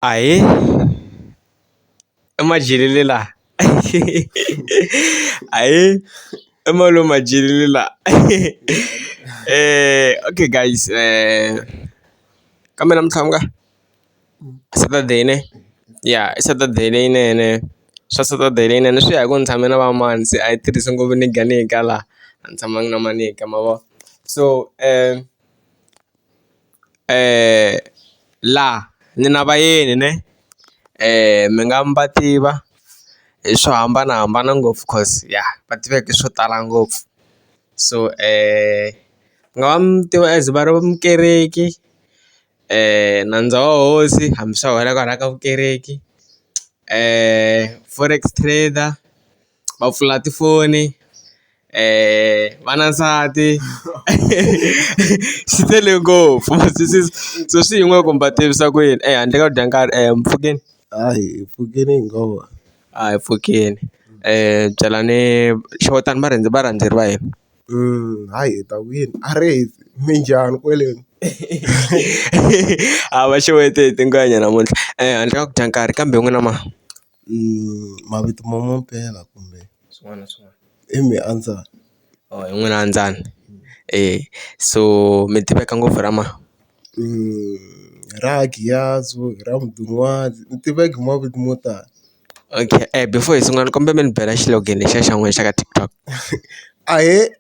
Ahee i Madyelele la ahee i Malume Madyelele la okay guys kambe namuntlha ku nga Saturday ne ya i Saturday leyinene swa Saturday leyinene swi ya hi ku ni tshame na va mani se a hi tirhisi ngopfu niga niga la a ni tshamangi na ma niga ma vo so . Laha ni na vayeni ne mi nga mi va tiva hi swo hambanahambana ngopfu coz ya va tiveka hi swo tala ngopfu so mi nga va mi tiva as va ri mukereki nandza wa hosi hambi swa wela kwalaya ka vukereki forex trader. va pfula tifoni va na nsati swi tele ngopfu so swi yin'we kumbe va tivisa ku yini ehandle ka ku dya nkarhi e mpfhukeni hayi hi pfukile hi ngo va a hi pfukeni byela ni xewetana va rhendze varhandzeri va hina hayi hi ta kwini a ri minjhani kweleni a va xeweta hi tingana namuntlha handle ka ku dya nkarhi kambe n'wina ma. mavito ma mampela kumbe swin'wana na swin'wana i Miandzani or hi n'wina a Ndzani eya so mi tiveka ngopfu hi ra mani ra Giyazo, hi ra Mudun'wazi ni tiveka hi mavito mo tala okay before hi sungula ni kombela mi ni bela xilogene lexiya xa n'wina xa ka TikTok ahee.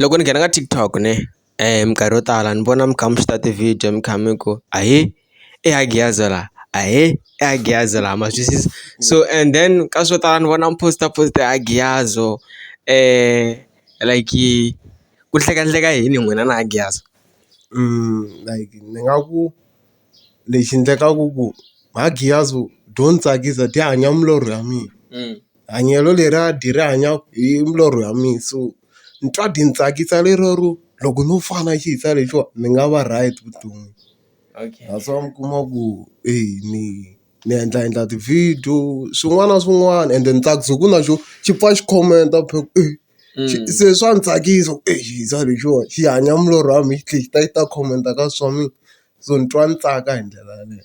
Loko ni nghena ka TikTok ne minkarhi yo tala ni vona mi kha mi shoot-a ti-video mi kha mi ku ahee i Hagiyaza la ahee i Hagiyaza la ma swi twisisa so and then ka swo tala ni vona mi post-a post Hagiyazo like ku hlekahleka yini n'wina na Hagiyazo like ni nga ku. lexi endlekaku ku magiyazi byo ndzi tsakisa byi hanya milorho ya mina hanyelo leri a dyi ri hanya hi milorho ya mina so ni twa byi ni tsakisa lero ro loko no fana xi hisa lexiwa ni nga va right vuton'wini that's why mi kuma ku e ni ni endla endla ti-video swin'wana na swin'wana ende ni tsakisa hi ku na xo xi pfa xi khomenta se swa ni tsakisa ku exi hisa lexiwa xi hanya milorho ya mina xi tlhe xi ta xi ta khomenta ka swa mina. so ni twa ni tsaka hi ndlela yaleyo.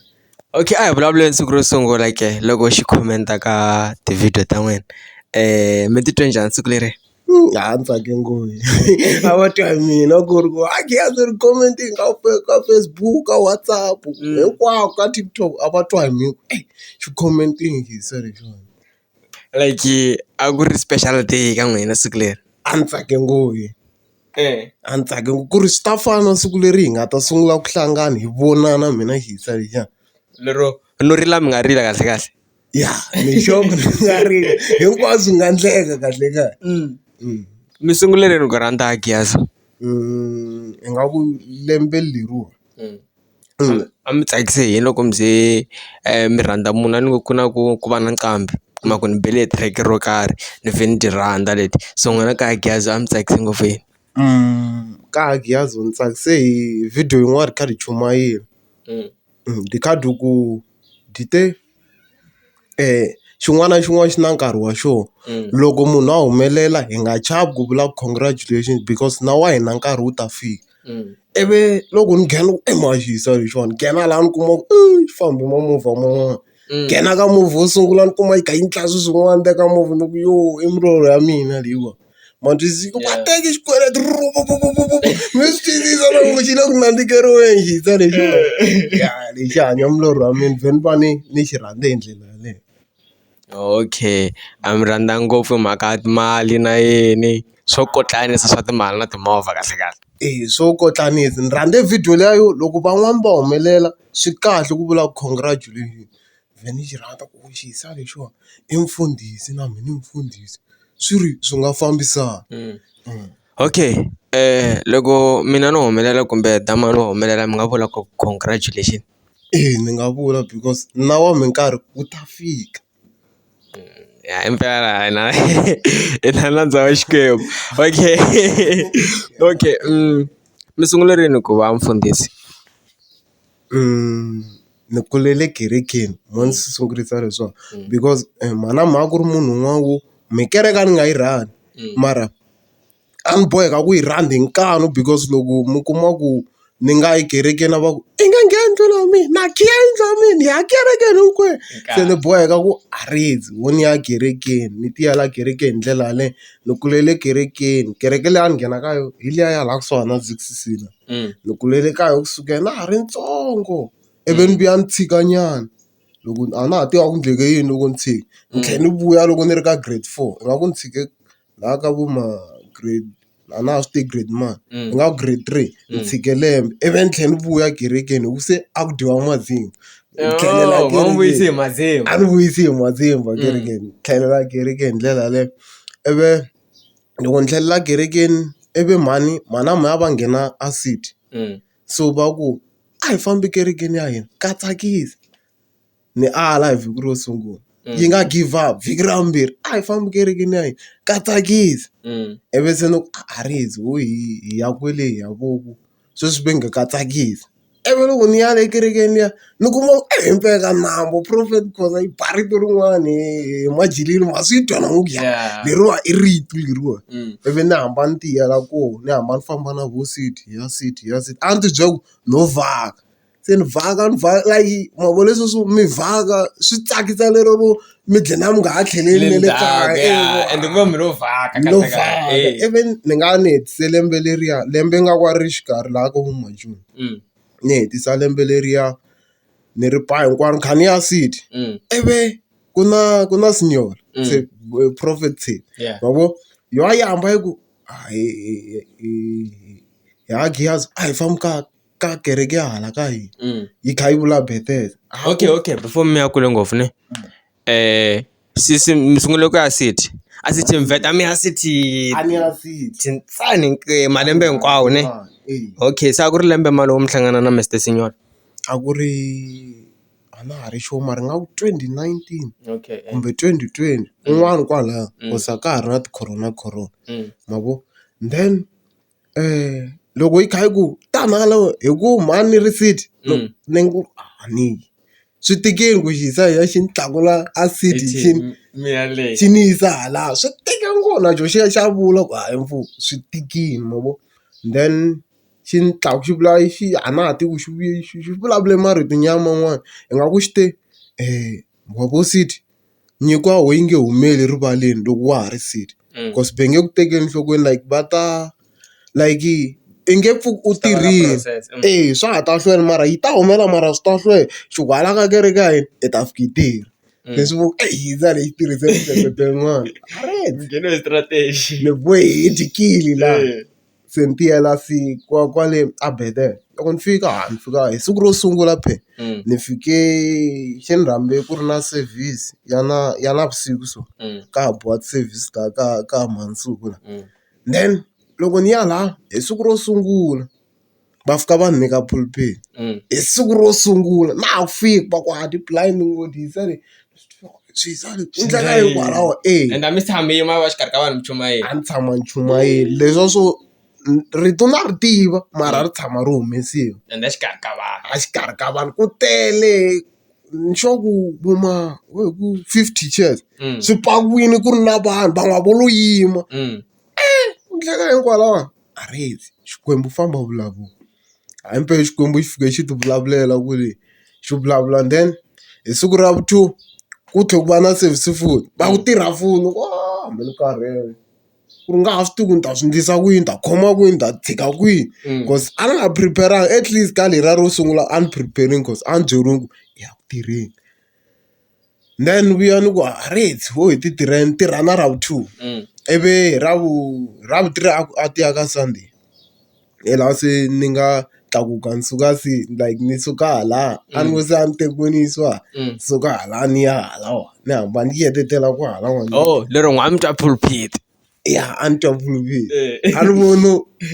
Okay a hi vulavuleni siku ro sungula ke loko xi comment-a ka ti-video ta n'wina mi titwe njhani siku leriya? A ni tsake ngopfu a va twa hi mina ku ri ku a Giyani ri comment-e ka ka Facebook, ka WhatsApp hinkwako ka TikTok a va twa hi mina ku ri eyi xi comment-ini Giyani se lexiwani. like a ku ri special day ka n'wina siku leri a ni tsake ngopfu a ni tsake ngopfu ku ri swi ta fana siku leri hi nga ta sungula ku hlangana hi vonana mina Hisa liya lero no rila mi nga rila kahle kahle ya ni sure ku ri nga rila hinkwaswo swi nga endleka kahle kahle mi sungule rini ku rhandza Giyani ingaku lembe leriwa. a mi tsakise hi yini loko mi ze mi rhandza munhu a ni ngo ku na ku ku va na nqambi u kuma ku ni bele track ro karhi ni vhe ni ti rhandza leti so n'wina kaya Giyaz a mi tsakise ngopfu hi yini kaya Giyaz ni tsakise hi video yin'wana ri kha ri chumayela ri kha ri ku dite. xin'wana na xin'wana xi na nkarhi wa xoho loko munhu a humelela hi nga chavi ku vula congratulations because na wa hina nkarhi wu ta fika ivi loko ni nghena e mhani xi hisa lexiwani nghena laha ni kuma ku i fambe ma movha man'wana nghena ka movha wo sungula ni kuma yi kha yi ndla swi swin'wana ni teka movha ni ku yo i milorho ya mina leyiwa. mandiziko yeah. mateki xikweleti mi swi tiyisisa loko xi le ku nandzikeriweni xi ta lexi lexi hanya mulorhi wa mina vheni va ni ni xi rhandze hi ndlela yaleyo okay a mi rhandza ngopfu hi mhaka mali na yini swo kotlanisa swa timali na timovha kahle kahle e swo kotlanisa ni rhandze video leyo loko van'wani va humelela swi kahle ku vula congratulation mina ni xi rhandza ku xi hisa lexiwani i mfundhisi na mina ni mfundhisi swi ri swi nga fambisana okay loko mina no humelela kumbe damu ro humelela mi nga vula ku congratulation eya ni nga vula because na wa mi nkarhi wu ta fika ya i mpela i na i na nandza wa Xikwembu okay okay mi sungule rini ku va mfundhisi. Ni kulele kerekeni mo ni swi sungurisa hi swona because mhana mhaka ku ri munhu un'wana wo me kereke a ni nga yi rhandza mara a ni boheka ku yi rhandza hi nkani because loko mi kuma ku ni nga yi kerekeni a va ku i nga ngheni ndlwini ya mina na khiya yindlu ya mina hi ya kerekeni hinkwenu se ni boheka ku a ho ni ya kerekeni ni ti yela kerekeni hi ndlela yaleyo ni kulele kerekeni kereke leyi a ni nghena ka yona hi liya ya laha kusuhana na Z_C_C la. Mm. ni kulele kaya ku sukela na ha ri ntsongo ivi ni vuya ni tshika nyana loko a na ha tiva ku ndleke yini loko ni tshika ni tlhela ni vuya loko ni ri ka grade four i nga ku ni tshike laha ka vo ma grade a na ha swi tivi grade mani ni nga ku grade three ni tshike lembe ivi ni tlhela ni vuya kerekeni hi ku se a ku dyiwa mazimba Ni tlhelela Oh, va n'wi vuyise hi kerekeni. mazimba. a ni vuyisi hi mazimba kerekeni tlhelela kerekeni hi ndlela yaleyo ivi loko ni tlhelela kerekeni ivi mhani mhani a mhani va nghena a seat so va ku a hi fambi ekerekeni ya hina ka tsakisa ni ala hi vhiki ro sungula yi nga give up vhiki ra vumbirhi a hi fambi ekerekeni ya hina ka tsakisa ivi se ni ku a ri hundzi hi ya kwele hi ya kokwani. sweswi va nge ka tsakisi ivi loko ni ya le kerekeni liya ni kuma ku e himpela ka nandza prophet Khoza i ba rito rin'wani hi majileni ma swi twa na onge leriwa i rito leriwa ivi ni hamba ni tiyela koho ni hamba ni famba na vo side hi ya side hi ya side a ni ti byela ku no vhaka. se ni vhaka ni vhaka like ma vona leswi swo mi vhaka swi tsakisa lero ro mi dlina na mi nga ha tlheleli na le kaya ende ku va mi lo vhaka no vhaka ivi ni nga ni hetise lembe leriya lembe nga ka ri xikarhi laha ka vo ma joni ni hetisa lembe leriya ni ri pfa hinkwaro ni kha ni ya city ivi ku na ku na senior se prophet ma vo yo a yi hamba yi ku hayi ha Giyazi a hi fambi kahle. ka kereke ya hala ka hina mm. yi kha yi vula bethel okay okay before mi ya kule ngopfu ne um sisi mi sungule ku ya city a city mi vheta mi ya city tintsani eh, malembe hinkwawo ne eh. okay se a ku ri lembe malowo mi hlangana na mister signor a ku ri a na ha ri xo mara nga ku twenty nineteen eh. kumbe twenty twenty mm. un'wana kwalaya mm. kosa ka ha ri na ti-corona corona mm. ma vo then Loko yi kha yi ku tani hala wena hi ku mhani ni receipt ni ngo a ni yi. Swi tikile ku yi size ya xi ni tlakula a seat xi ni xi ni yisa hala swi tika ngo na xona xi ya xi ya vula ku hayi mfo swi tikile ma vo. Then xi ni xi vula xi a na ha tivi ku xi vuye xi vulavule marito nyana man'wana ingaku xi te wa vo seat. nyiko a wu yi nge humeli rivaleni loko wa ha ri sixty cause va nge ku tekeli enhlokweni like va ta like i nge pfuki u tirhile eya swa ha ta hlwela mara yi ta humelela mara swi ta hlwela xi ku hala ka kereke ka hina i ta fika yi tele leswi vo eyi yindzani hi yi tirhise miehleketo yin'wani ni bohe hi dyile laha. se ni tiyela se kwa kwale a Bethel loko ni fika ha ni fika hi siku ro sungula phela ni fike xi ni rhambe ku ri na service ya na ya navusiku so ka ha biwa ti-service ta ka ka mundzuku then loko ni ya laha hi siku ro sungula. va fika va ni nyika pulpit hi siku ro sungula na ha ku fika va ku hayi tilayini ni ngo ti yisa le swi yisa le i ndlela yo kwalaho e ende a mi tshami mi va exikarhi ka vanhu mi chumayela a ni tshama ni chumayela leswi a swo rito na ri tiva mara a ri tshama ri humesiwa ende exikarhi ka vanhu a xikarhi ka vanhu ku tele ni sure ku vo ma vo hi ku fifty chairs swi pakiwile ku ri na vanhu vanhu a vo lo yima. ku endleka hinkwalaho a ri fi Xikwembu famba u vulavula hayi mpela Xikwembu xi fike xi ti vulavulela ku ri xi vulavula then hi siku ra vu two ku tlhela ku va na service futhi va ku tirha foni hambi ni karhele ku ri nga ha swi tivi ku ni ta swi endlisa ku yini ni ta khoma kwini ni ta tshika kwihi coz a ni nga prepare-angi atleast ka leriya ro sungula a ni prepare-ini coz a ni byeriwile ku ya ku tirheni. Then ni vuya ni ku a rate ho hi ti tirhela ni tirha na ra vu two ivi hi ra vu hi ra vu three a ku a ti ya ka Sunday hi laha se ni nga tlakuka ni suka se like ni suka hala a ni ngo se a ni tekiwe ni yisiwa hala ni suka hala ni ya hala wa ni hamba ni ti etetela kwahalawani. ya a ni twa ku a ni voni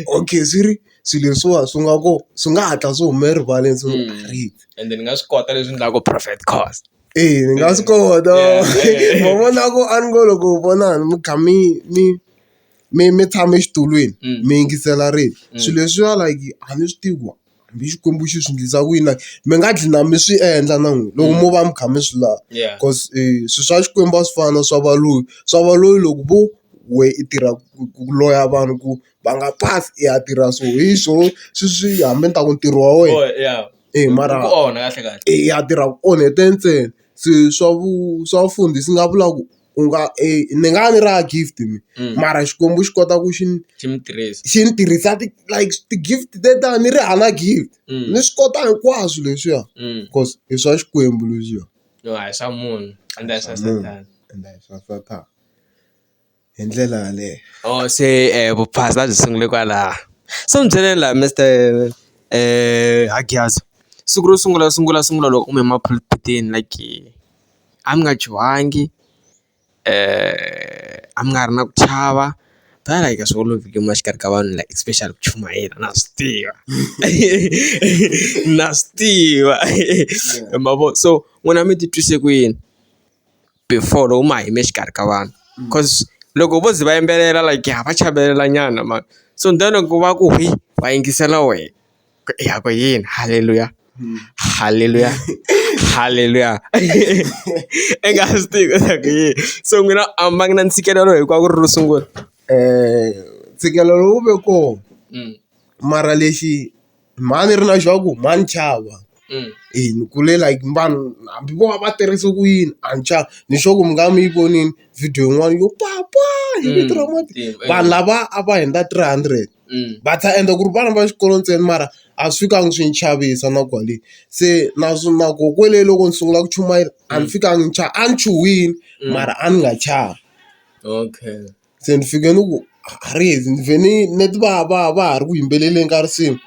okay swi ri swilo leswiwa swi nga ku swi nga hatla swi hume erivaleni swi nga ha ri ende ni nga swi kota leswi endlaku profit cost eya ni nga swi kota ma vona ku a ni ngo loko vona mi kha mi mi mi mi tshame exitulwini mi yingisela rito swilo leswiya like a ni swi tivi ku. hambi Xikwembu xi swi endlisa ku yini mi nga gcina mi swi endla na n'wina loko mo va mi kha mi swi lava coz swilo swa Xikwembu a swi fani na swa valungu swa valungu loko vo wehe i tirha ku loya vanhu ku va nga pasi i ya tirha so hi swo swi swi hambi ni ta ku ntirho wa wena i mara ku onha kahle kahle i ya tirha ku onhete ntsena se swa vu swa vufundhisi ni nga vula ku. u nga ni nga va ni ri hava gift mehe mara Xikwembu xi kota ku xi ni xi mi tirhisa xi ni tirhisa ti like ti-gift tetani ni ri hava gift ni swi kota hinkwaswo leswiya cause i swa Xikwembu leswiya yo a hi swa munhu ende a hi swa Sathana ende a hi swa Sathana hi ndlela yaleyo or se vuphasa byi sungule kwalaho so ni byele la Mister Hangiyasani siku ro sungula sungula sungula loko u huma emapulpitini like. a mi nga chuhangi a mi nga ha ri na ku chava than like a swi olovi ku yima exikarhi ka vanhu like especially ku chumayela na swi tiva na swi tiva ma vo so n'wina mi ti twise ku yini before loko ma ha yime exikarhi ka vanhu coz loko vo ze va yimbelela like ha va chavelela nyana mani so then loko va ku hwii va yingisela wena. yakwe yini haleluya haleluya haleluya i nga swi tivi swa ku yini so n'wina a mi va ngi na ntshikelelo hi ku a ku ri ro sungula ntshikelelo wu ve kona mara lexi mhani ri na xa ku mhani chava hi ni kule like vanhu hambi vo va va tirhise ku yini a ni chavi ni sure ku mi nga mi yi vonile video yin'wana yo papa hi vito ra vanhu lava a va hundza three hundred. va ta endla ku ri vana va xikolo ntsena mara a swi fikangi swi ni chavisa na kwale. Se na swi na ku kwale loko ni sungula ku chumayela a ni fikangi ni chava a ni chuhile mara a ni nga chavi. Okay se ni fike ni ku a ri ze ni vhe ni ni ti va va va ha ri ku yimbeleleni ka risimu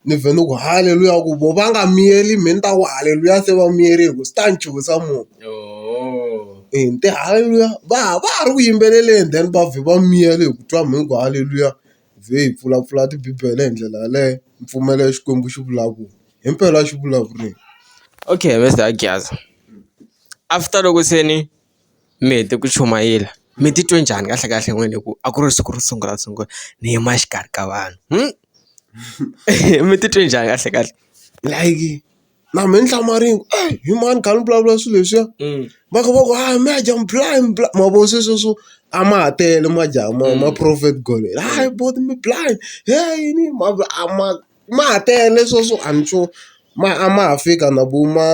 ni vhe ni ku haleluya ku voho va nga miyeli me ni ta ku haleluya se va miyele hi ku swi ta ni chuhisa more. Ni te haleluya va ha va ha ri ku yimbeleleni then va vhe va miyela hi ku twa mhangu haleluya. vhe hi pfulapfula tibibele hi ndlela yaleyo ni pfumela leswi Xikwembu xi vulaka ku himpela xi vulavurile. Okay Mister Giyani after loko se ni mi hete ku chumayela mi titwe njhani kahle kahle n'wini hi ku a ku ri siku ro sungula sungula ni yima exikarhi ka vanhu mi titwe njhani kahle kahle like. na mehe ni hlamala ni ku ey hi mani khale ni vulavula swilo leswiya va kha va ku hayi mehe a dya blind blind ma vo se sweswo a ma ha tele ma dya ma ma profit kwale hayi bo mi blind heyi yini ma ku a ma ma ha tele sweswo a ni sure ma a ma ha fika na vo ma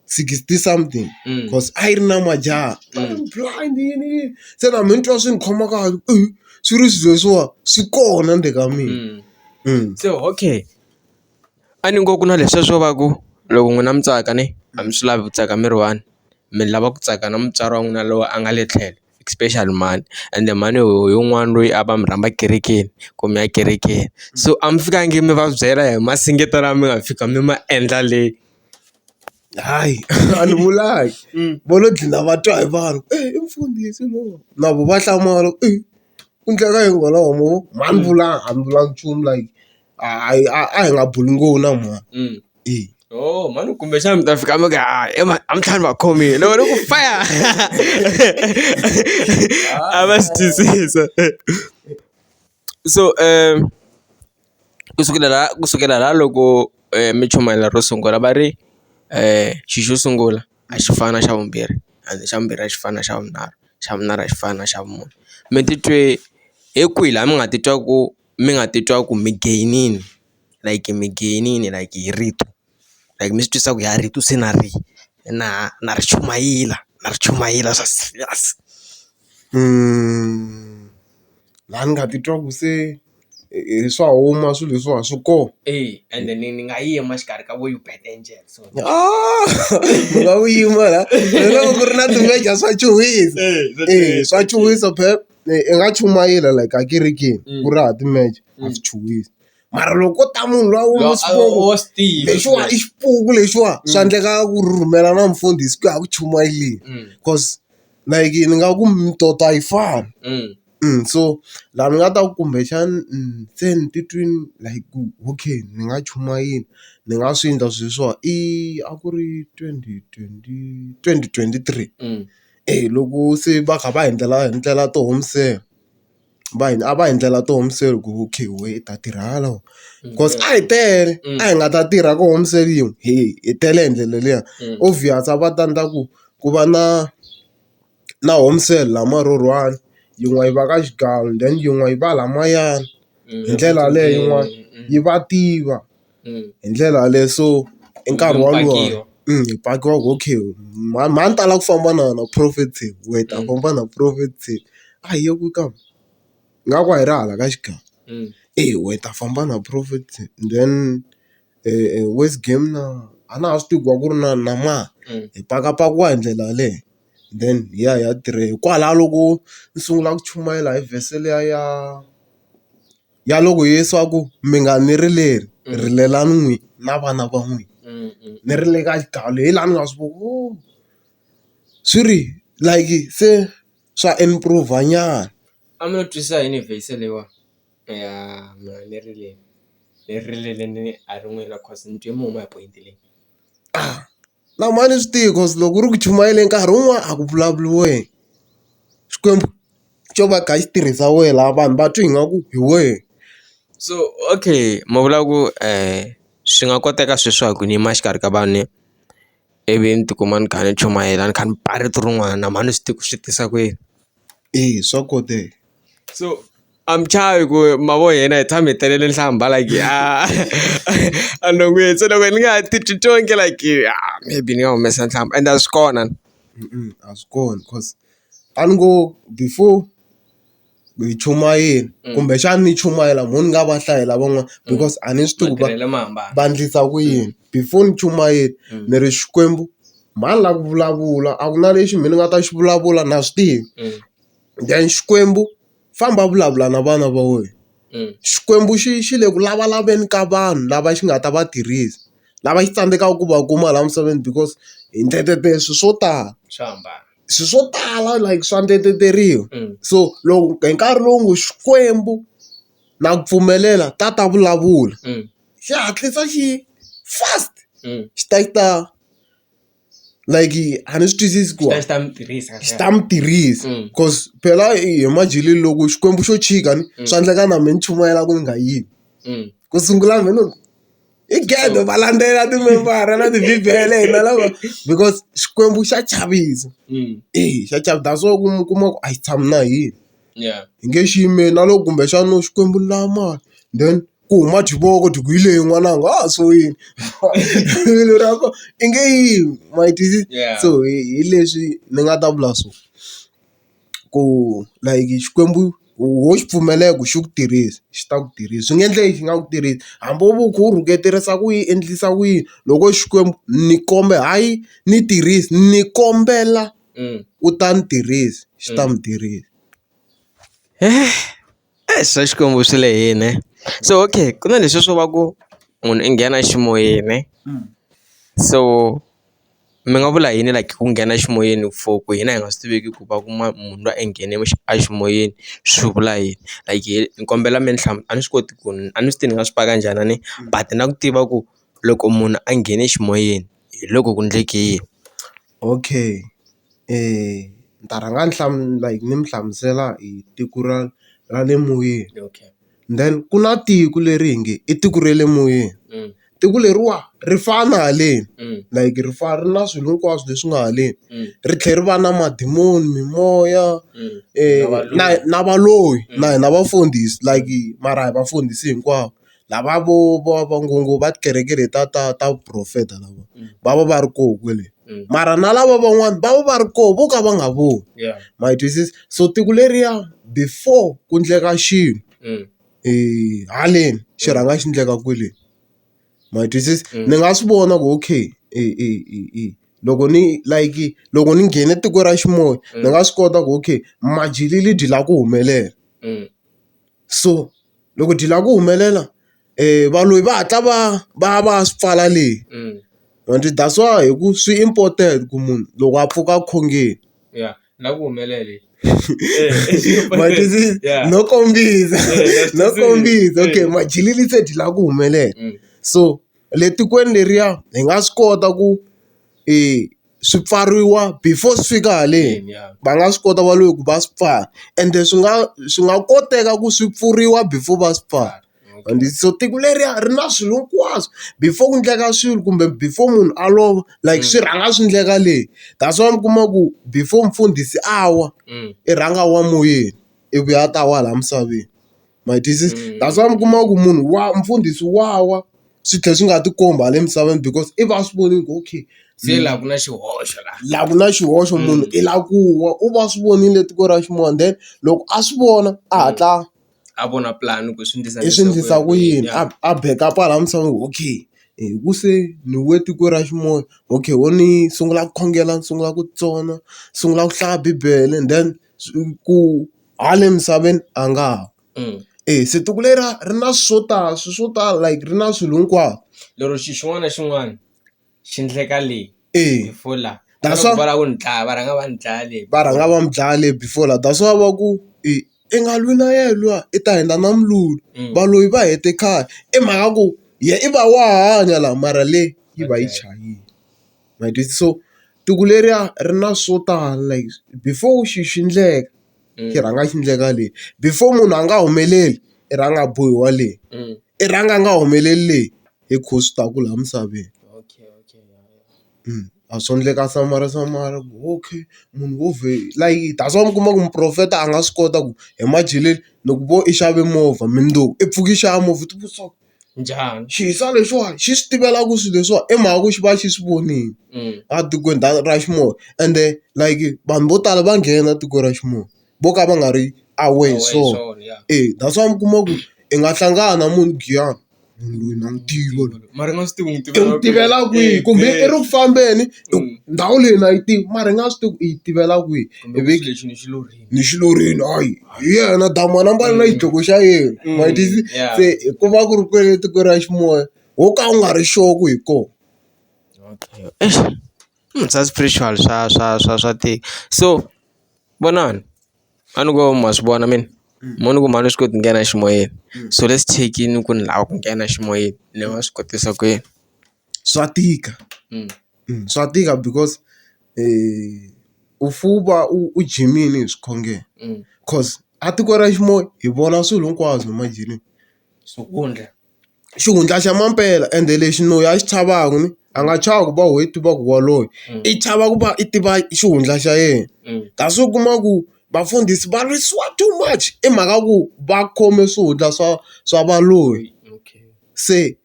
sixty something cause a yi ri na majaha va ri blind yini yini se na mehe ni twa swi ni khoma kahle ku swi ri swilo leswiwa swi kona ndzeni ka mina se okay. A ni ngo ku na leswiya swo va ku loko n'wina mi tsaka ne a mi swi lavi ku tsaka mi ri one mi lava ku tsaka na mutswari wa n'wina loyi a nga le tlhelo especially mhani ende mhani hi un'wana loyi a va mi rhamba kerekeni ku mi ya kerekeni so a mi fikangi mi va byela hi masingitta lawa mi nga fika mi ma endla le hayi a ni vulanga vo lo dlina va twa hi vanhu i mfundhisi lowa na vo va hlamala ku i ku endleka yini kwalaho mo a ni vulanga a ni vulanga nchumu like a hi a a hi nga buli ngopfu na mhani Mm. e Oh, mhani kumbexana mi ta fika mi ka "Ah, ema a mi tlhani va khomile loko ni ku faya a va swi twisisa so um kusukela la kusukela la loko um mi chumayela ro sungula va ri um xi xo sungula a xi fani na xa vumbirhi and xa vumbirhi a xi fani na xa vunharhu xa vunharhu a xi fani na xa vumune mi titwe hi kwihi laha mi nga titwa ku mi nga titwa ku mi gain-ini like mi gain-ini like hi rito like mi swi twisa ku ha rito se na ri na na ri chumayela na ri chumayela swa serious laha ni nga titwa ku se i swa huma swilo leswiwani swi kona e ende ni ni nga yima exikarhi ka vo you bet angel so ni nga wu yima la ni loko ku ri na ti-major swa chuhisa swa chuhisa phela. i nga chumayela like a kerekeni ku ri hava timeche a swi chuhisi mara loko ko ta munhu luya wa xikwembu wa swi tiva lexiwa i xipuku lexiwa swa endleka ku rhumela na mfundhisi ku ya ku chumayeleni coz like ni nga ku mitoto a yi fani so laha ni nga ta ku kumbexani se ni titwini like ku okay ni nga chumayela ni nga swi endla swilo leswiwa i a ku ri twenty twenty twenty twenty three. loko se va kha va hi endlela hi endlela ti home cell va hi a va hi endlela ti home cell ku okay wena u ta tirha hala wena coz a hi tele a hi nga ta tirha ka home cell yin'we he hi tele hi ndlela liya obvious a va ta endla ku ku va na na home cell la murhurhi one yin'we yi va ka xigawu then yin'we yi va laha mayani hi ndlela yaleyo yin'wana yi va tiva. hi ndlela yaleyo so i nkarhi wolowo hi pakiwa hi ku okay mhani mhani tala ku famba na wena prophet team wena hi ta famba na prophet team a hi yi ku ka ingaku a hi ri hala ka xigava eya wena hi ta famba na prophet team then worse game na a na ha swi tivi ku va ku ri na na mani hi pakapakiwa hi ndlela yaleyo then hi ya hi ya tirha hikwalaho loko ni sungula ku chumayela hi vhese liya ya. ya loko Yesu a ku mi nga ni rileli rilelani n'wina na vana va n'wina ni rile ka xigayo leyi laha ni nga swi ku ooh swi ri like se swa improve nyana. A mi lo twisisa yini hi verse leyiwani ya mi nga ni rileli ni rilele a ri n'wina cause ni twe mi huma hi point leyi. Na mhani swi tiva ku loko u ri ku chumayeleni nkarhi wun'wani a ku vulavuriwe. Xikwembu xo va xi kha xi tirhisa wehe laha vanhu va twa ingaku hi wehe. So okay ma vula ku swi nga koteka sweswi swa ku ni yima exikarhi ka vanhu ivi ni ti kuma ni kha ni chumayela ni kha ni ba rito rin'wana na mhani swi tiva ku swi tisa ku yini. Eya swa koteka so. I'm tired ku mavo yena hi tshame hi telele nhlamba like a a no n'wi se loko ni nga ha titwi tonge like ah, maybe ni nga humesa nhlamba and a swi kona a swi kona cause a ni ngo before hi chumayela mm. kumbexana ni chumayela mho ni nga va hlayela van'wana mm. because a ni swi tivi ku va ndlisa ku yini mm. before ni chumayela ni ri xikwembu mhani la ku vulavula a ku na lexi mina ni nga ta xi vulavula na swi tivi then xikwembu famba vulavula na vana va wena. Xikwembu xi xi le ku lavalaveni ka vanhu lava xi nga ta va tirhisa, lava xi tsandzekaka ku va kuma laha misaveni because hi endlele swilo swo tala. Swa hambana. Swilo swo tala like swa endleriwa. So loko hi nkarhi lowu ngo Xikwembu na ku pfumelela ta ta vulavula, xi hatlisa xi fast xi ta xi ta. like a ni swi twisisi ku xi ta n'wi tirhisa xi ta n'wi tirhisa mm. cause phela hi madyeleni loko xikwembu xo chika ni mm. swa endleka na mina ni chumayela ku ni nga yimi mm. ku sungula mina loko i gede va landzela timembara na tibibele hina lava because xikwembu xa chavisa e xa chavisa so ku kuma ku a yi tshami na hina hi nge xi yimeli na loko kumbexana u Xikwembu ni lava mali then ku huma xivoko ku hi leyi n'wananga a swi wini rivilo ra kona i nge yimi ma yi twisisa so hi leswi ni nga ta vula swona ku like Xikwembu ho xi pfumelela ku xi ku tirhisa xi ta ku tirhisa swi nga endleka xi nga ku tirhisi hambi wo ku wu rhuketerisa ku yi endlisa ku yini loko Xikwembu ni kombela hayi ni tirhisa ni kombela. u ta ni tirhisa xi ta mi tirhisa. Eish swa Xikwembu swi lehile so okay ku na leswiya swo va ku munhu i nghena eximoyeni so mi nga vula yini like ku nghena eximoyeni for ku hina hi nga swi tiveki ku va ku munhu lwa i nghene eximoyeni swi vula yini like ni kombela mi ni a ni swi koti ku ni a ni swi tivi ni nga swi paka njhani a ni but na ku tiva ku loko munhu a nghene eximoyeni hi loko ku endleke yini. Okay ni ta rhanga ni like ni mi hlamusela hi tiko ra ra le moyeni okay then ku na tiko leri hi nge i tiko ra le moyeni tiko leriwa ri fana haleni like ri fana ri na swilo hinkwaswo leswi nga haleni ri tlhela ri va na madimoni, mimoya na na valoyi na hina vafundhisi like mara hi vafundhisi hinkwavo. lava vo vo va ngo ngo va tikereke leti ta ta ta vuporofeta lava va va va ri koho kwale mara na lava van'wani va va va ri koho vo ka va nga voni ma yi twisisa so tiko leriya before ku endleka xilo haleni xi rhanga xi endleka kwele ma yi twisisa ni nga swi vona ku okay loko ni like loko ni nghene tiko ra xin'wani ni nga swi kota ku okay majele byi lava ku humelela. so loko dyile a ku humelela valoyi va hatla va va va swi pfala le and that's why hi ku swi important ku munhu loko a pfuka a khongeni ya na ku humelele no kombisa no kombisa okay madyile se dyile a ku humelela so le tikweni leriya hi nga swi kota ku i. swi pfariwa before swi fika haleni va nga swi kota va lo ku va swi pfala ende swi nga swi nga koteka ku swi pfuriwa before va swi pfala and so tiko leriya ri na swilo hinkwaswo before ku endleka swilo kumbe before munhu a lova like swi rhanga swi endleka le that's why mi kuma ku before mfundhisi a wa i rhanga a wa moyeni ivi a ta wa laha misaveni. ma yi twisisa that's why mi kuma ku munhu wa mfundhisi wa wa swi tlhela swi nga ti kombi hala emisaveni because i va a swi vonile ku okay se la ku na xihoxo la la ku na xihoxo munhu i la ku wa u va swi vonile tiko ra xin'wana then loko a swi vona a hatla a vona plan ku swi endlisa i swi endlisa ku yini a a beka pala misava okay hi ku se ni we tiko ra xin'wana okay wo ni sungula ku khongela ni sungula ku tsona sungula ku hlaya bibele then ku. Hala le misaveni a nga ha. E se tiko leri ri na swo tala swilo swo tala like ri na swilo hinkwaswo. Lero xilo xin'wana na xin'wana xi endleka le before la va lava ku ni dlaya va rhanga va ni dlaya le va rhanga va mi dlaya le before la that's why va ku i i nga lwi na yena luya i ta heta na mulungu valoyi va hete khale i mhaka ya ku yena i va wa hanya laha mara le yi va yi chayile. ma ti so tiko leriya ri na swo tala like before xilo xi endleka xi rhanga xi endleka le before munhu a nga humeleli i rhanga a bohiwa le i rhanga a nga humeleli le hi ku swi ta ku laha misaveni a swo endleka samara samara ku okay munhu wo vhe like that's why mi kuma ku muporofeta a nga swi kota ku hi madyeleni ni ku vo i xave movha mundzuku i pfuka i xava movha i ti vutisa ku. njhani xisa lexiwani xi swi tivela ku swilo leswiwa i mhaka ku xi va xi swi vonile a tikweni ra xinuna ende like vanhu vo tala va nghena tiko ra xinuna vo ka va nga ri aware hi swona e that's why mi kuma ku i nga hlangana na munhu giyani munhu loyi na n'wi tiva loyi mara i nga swi tivi n'wi tiva i n'wi tivela kwihi kumbe i ri ku fambeni ndhawu leyi na yi tivi mara i nga swi tivi ku i yi tivela kwihi ivi lexi ni xi lo. ni xilurile hayi hi yena damu a nambale na xidloko xa yena ma yi twisisa se ku va ku ri kwele etikweni ra ximoya ho ka u nga ri sure ku hi kona swa spiritual swa swa swa swa tika so vonani a ni ngo ma swi vona mina mo ni ku mhani u swi koti ku nghena eximoyeni so let's check-ini ku ni lava ku nghena eximoyeni ni nga swi kotisa ku yini. swa tika swa tika because u fuwa u jimini hi swikhongelo coz a tiko ra xinuna hi vona swilo hinkwaswo imagine xihundla xihundla xa mampela ende lexi loyi a xi chavaka ni a nga chava ku va wehe i tiva ku waloye i chava ku va i tiva xihundla xa yena kasi u kuma ku vafundhisi va lwisiwa too much i mhaka ku va khome swihundla swa swa valoyi se.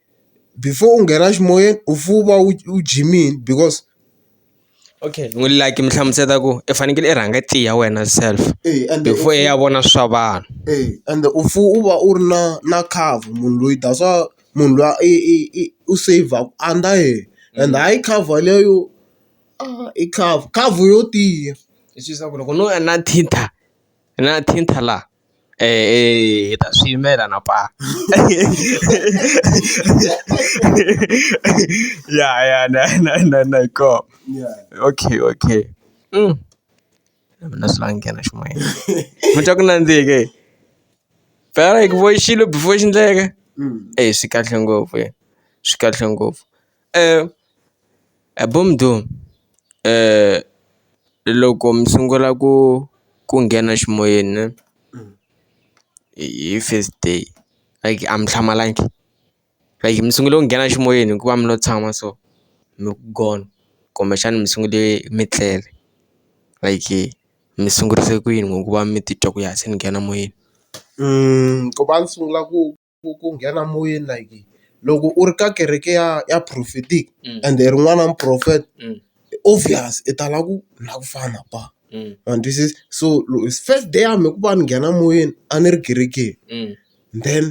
before u nghena eximoyeni u fuke u va u u jimile because okay ni n'wi like mi hlamusela ku i fanekele i rhanga i tiya wena self before i ya vona swa vanhu ende u fuke u va u ri na na cover munhu loyi that's why munhu luya i i i u save under yena and hayi cover leyo i cover cover yo tiya leswaku loko no va na thinta na thinta laha. hi ta swi yimela na paa ya ya na na na na hi koho okay okay na mina swi lava ni nghena ximoyeni mi twa ku nandzihi ke phela hi ku vo xilo before xi endleka eyi swi kahle ngopfu swi kahle ngopfu. He bo mdoo loko mi sungula ku ku nghena ximoyeni ne hi first day like a mi hlamalangi like mi sungule ku nghena ximoyeni hikuva mi lo tshama so mi ku gona kumbexana mi sungule mi tlele like mi sungurise ku yini ngoku va mi titwa ku ya se ni nghena moyeni ku va ni sungula ku. ku ku nghena moyeni like loko u ri ka kereke ya ya prophetic and hi ri n'wana wa muporofeta obvious i tala ku na ku fana kwala ma ni twisisa so first day ya mina ku va ni nghena moyeni a ni ri kerekeni then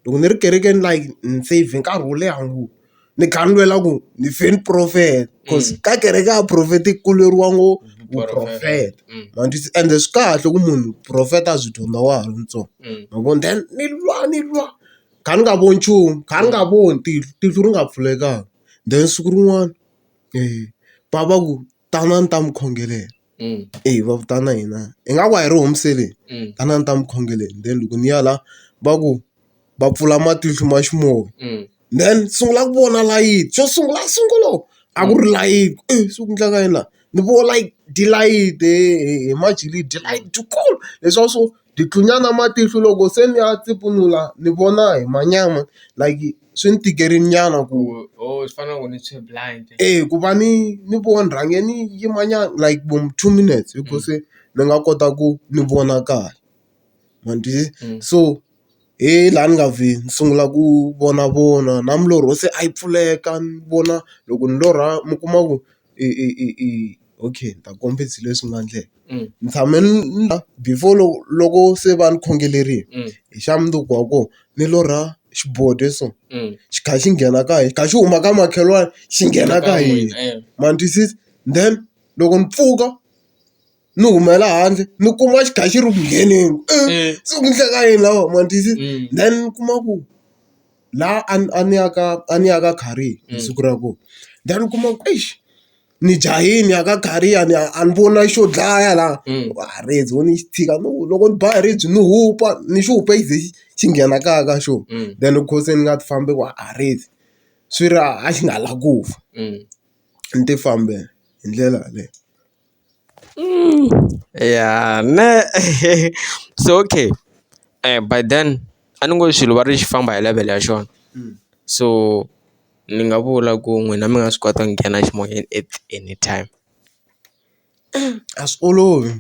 loko ni ri kerekeni like ni save nkarhi wo leha ngopfu. ni kha ni lwela ku ni fe ni profeta cause ka kereke ya profeta ku lweriwa ngo vuprofeta ma ni twisisa ende swi kahle ku munhu profeta a byi dyondza wa ha ri ntsongo ma vo then ni lwa ni lwa kha ni nga voni nchumu kha ni nga voni tihlo tihlo ri nga pfulekanga then siku rin'wana va va ku. tanani ta mi khongelela mm. eyi va vitana hina hi nga ku a hi ri homiseleni mm. tanani ta mi khongeleni then loko ni ya la va ku va pfula matihlo ma ximoya mm. then sungula ku vona layiti xo sungula sungula a ku ri layiti e eh, swi ku ndlaka yini laha ni vo like dilayiti hi majilidi dilayiti dikulu leswaku swo Ndzi tlunya na matihlo loko se ni ya tipfunula ni vona hi manyama like swi ni tikerile nyana ku e ku va ni ni vona ni rhange ni yima nyana like vo two minutes hi ku se ni nga kota ku ni vona kahle ma ni twisisa so. he laha ni nga vhi ni sungula ku vonavona na milorho se a yi pfuleka ni vona loko ni lorha mi kuma ku i i i i okay ni ta kombisa hi leswi nga ndleka ni tshame ni before loko loko se va ni khongerile hi xa mundzuku wa kona ni lorha xiboho so xi kha xi nghena ka hina xi kha xi huma ka makhelwani xi nghena ka hina ma ni twisisa then loko ni pfuka. ni humela handle ni kuma xi kha xi ri ku ngheneni se ku endleka yini laha ma ni twisisa then ni kuma ku laha a ni a ni ya ka a ni ya ka khariyeni hi siku ra kona then ni kuma ku eish ni jahile ni ya ka khariyeni a ni a ni voni na xo dlaya laha a ribye ho ni xi tshika no loko ni ba hi ribye ni hupa ni xi hupe xi ze xi xi nghena kaya ka xona then loko se ni nga ti fambi ku a ribye swi ri a xi nga lavi ku fa ni ti fambela hi ndlela yaleyo. Mm, ya ne so okay eh by then a ni ngo swilo va ri xi famba hi level ya xona so ni nga vula ku n'wina mi nga swi kota ku nghena eximoyeni at anytime a swi olovi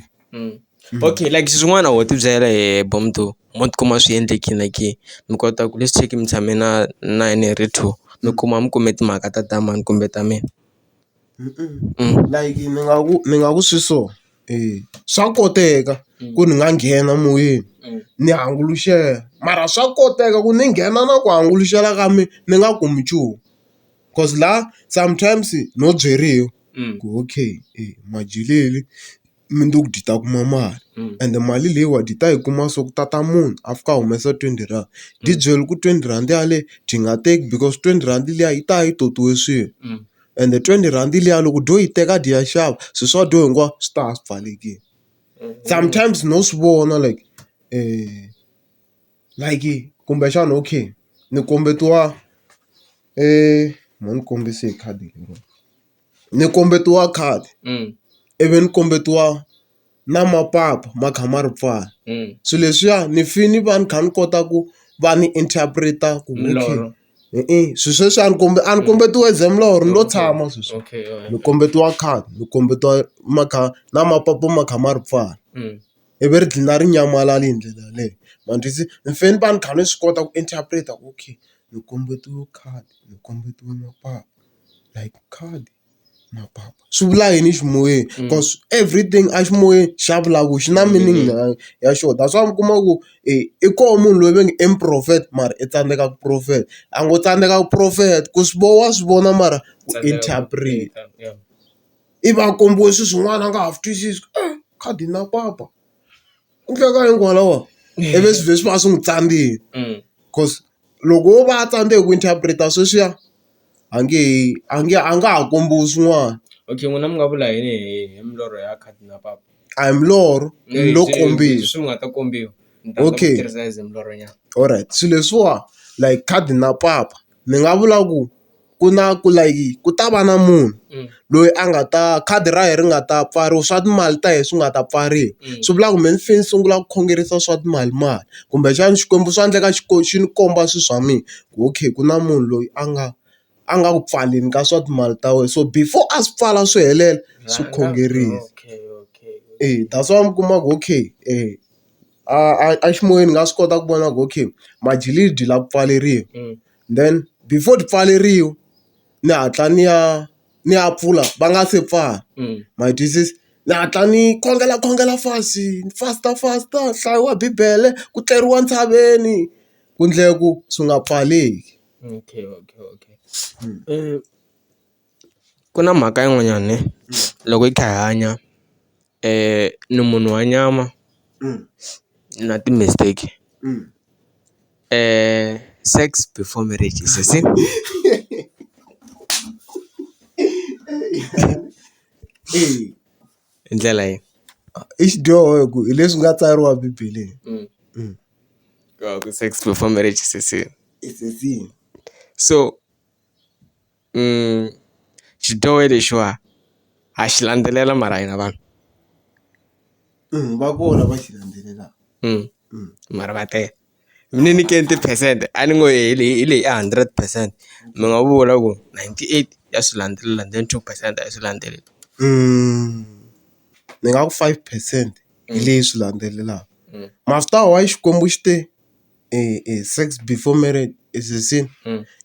okay like swin'wana ho tibyela hi bo mundhu mo tikuma swi endlekile na ke mi kota ku let's check mi tshame na na yena hi ri two mi kuma mi kume timhaka ta ta mani kumbe ta mina. like ni nga ku ni nga ku swi so swa koteka ku ni nga nghena moyeni ni hanguluxela mara swa koteka ku ni nghena na ku hanguluxela ka mina ni nga kumi nchumu coz la sometimes no byeriwa ku okay majele. mundzuku byi ta kuma mali ende mali leyiwani byi ta yi kuma so ku tata munhu a fika a humesa twenty rand byi byela ku twenty rand yaleyo byi nga teki because twenty rand liya yi ta yi totiwe swilo ende twenty rhandi liya loko u dyo yi teka dyi ya xava swi swa dyo hinkwaswo swi ta swi pfalelekile sometimes no swi vona like like kumbexana okay ni kombetiwa mhani ni kombise hi khadi leriwani. ni kombetiwa khadi ivi ni kombetiwa na mapapa ma kha ma ri pfala swilo leswiya ni fane ni va ni kha ni kota ku va ni interpret-a ku hi swilo sweswi a ni a ni kombetiwa as a mulorho ni lo tshama sweswi ni kombetiwa khadi ni kombetiwa ma kha na mapapa ma kha ma ri pfala ivi ri dlina ri nyamalala hi ndlela yaleyo ma ni twisisa ni fane ni va ni kha ni swi kota ku interpret-a ku okay ni kombetiwe khadi ni kombetiwe mapapa. like khale mapapa swi vula yini eximoyeni cause everything a ximoyeni xa vulavula xi na meaning ya xoho that's why mi kuma ku i koho munhu loyi va nge i muporofeta mara i tsandzeka ku profeta a ngo tsandzeka ku profeta ku swi vona wa swi vona mara u interpret ivi a kombiwe swin'wana a nga ha swi twisisi khadi na papa. Ku tlula kwalano kwalaho i ve swilo leswi va swi n'wi tsandzekile because loko wo va a tsandzeka ku interpret-a sweswiya a nge he a nge a nga ha kombiwi swin'wana. Okay n'wina mi nga vula yini hi hi milorho ya khadi na papa? A hi milorho i lo kombiwa. Leswi mi nga ta kombiwa. Okay. Ni ta kota ku tirhisa as milorho nyana. Alright swilo leswiwa like khadi na papa. ni nga vula ku ku na ku like ku ta va na munhu loyi a nga ta khadi ra yena ri nga ta pfariwa swa timali ta hina swi nga ta pfariwa swi vula ku mehe ni fanele ni sungula ku khongerisa swa timali mali kumbexana Xikwembu swa endleka xi xi ni komba swilo swa mina ku okay ku na munhu loyi a nga a nga ku pfaleli ka swa timali ta wena so before a swi pfala swi helela swi khongerile e that's why mi kuma ku okay . A a a ximoyeni ni nga swi kota ku vona ku okay majiliji la ku pfaleriwa then before ti pfaleriwa ni hatla ni ya ni ya pfula va nga se pfala ma yi twisisa ni hatla ni khongela khongela fast ni fasta fasta ku hlayiwa bibele ku tleriwa ntshaveni ku endlela ku swi nga pfaleki. ku na mhaka yin'wanyana ne loko hi kha hi hanya ni munhu wa nyama na ti-mistake sex before marriage is a sin hi ndlela yini i xidyoho hi ku hi leswi nga tsariwa bibeleni sex before marriage is a sin so. xidyohi lexiwa ha xi landzelela mara hina vanhu va kona va xi landzelelaka mara va tele mi ni nyikeni tiphesente a ni ngo hi leyi hi leyi a hundred percent mi nga vula ku ninety eight ya swi landzelela then two percent a yi swi landzeleli ni nga ku five percent hi leyi swi landzelelaka mara swi ta ya why Xikwembu xi te. sex before marriage is a sin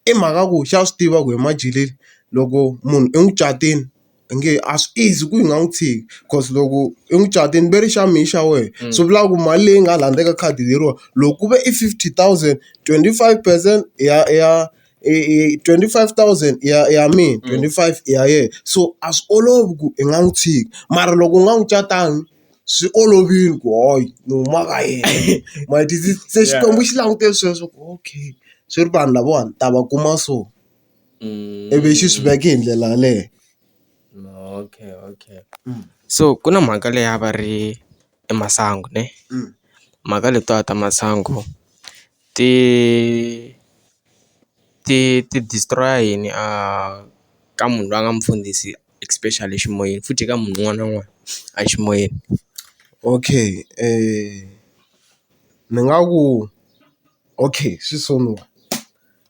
i mhaka ku xa swi tiva ku emajaleni loko munhu i n'wi catile i nge a swi easy ku yi nga n'wi tshiki cause loko i n'wi catile ve ri xa mehe xa wena swi vula ku mali leyi nga laha ndzeni ka khadi leriwa loko ku ve i fifty thousand twenty five percent ya ya i twenty five thousand ya ya mina twenty five i ya yena so a swi olovi ku i nga n'wi tshiki mara loko u nga n'wi catanga. swi olovile ku hayi ni huma ka yena ma ti se Xikwembu xi langute sweswo ku okay swi ri vanhu lavawani ni ta va kuma so ivi xi swi veke hi ndlela yaleyo. Okay okay so ku na mhaka leyi a va ri i masangu ne mhaka letiwani ta masangu ti ti ti destroy-a yini a ka munhu loyi a nga mufundhisi especially eximoyeni futhi eka munhu un'wana na un'wana a ximoyeni. Okay ni nga ku okay swi sungula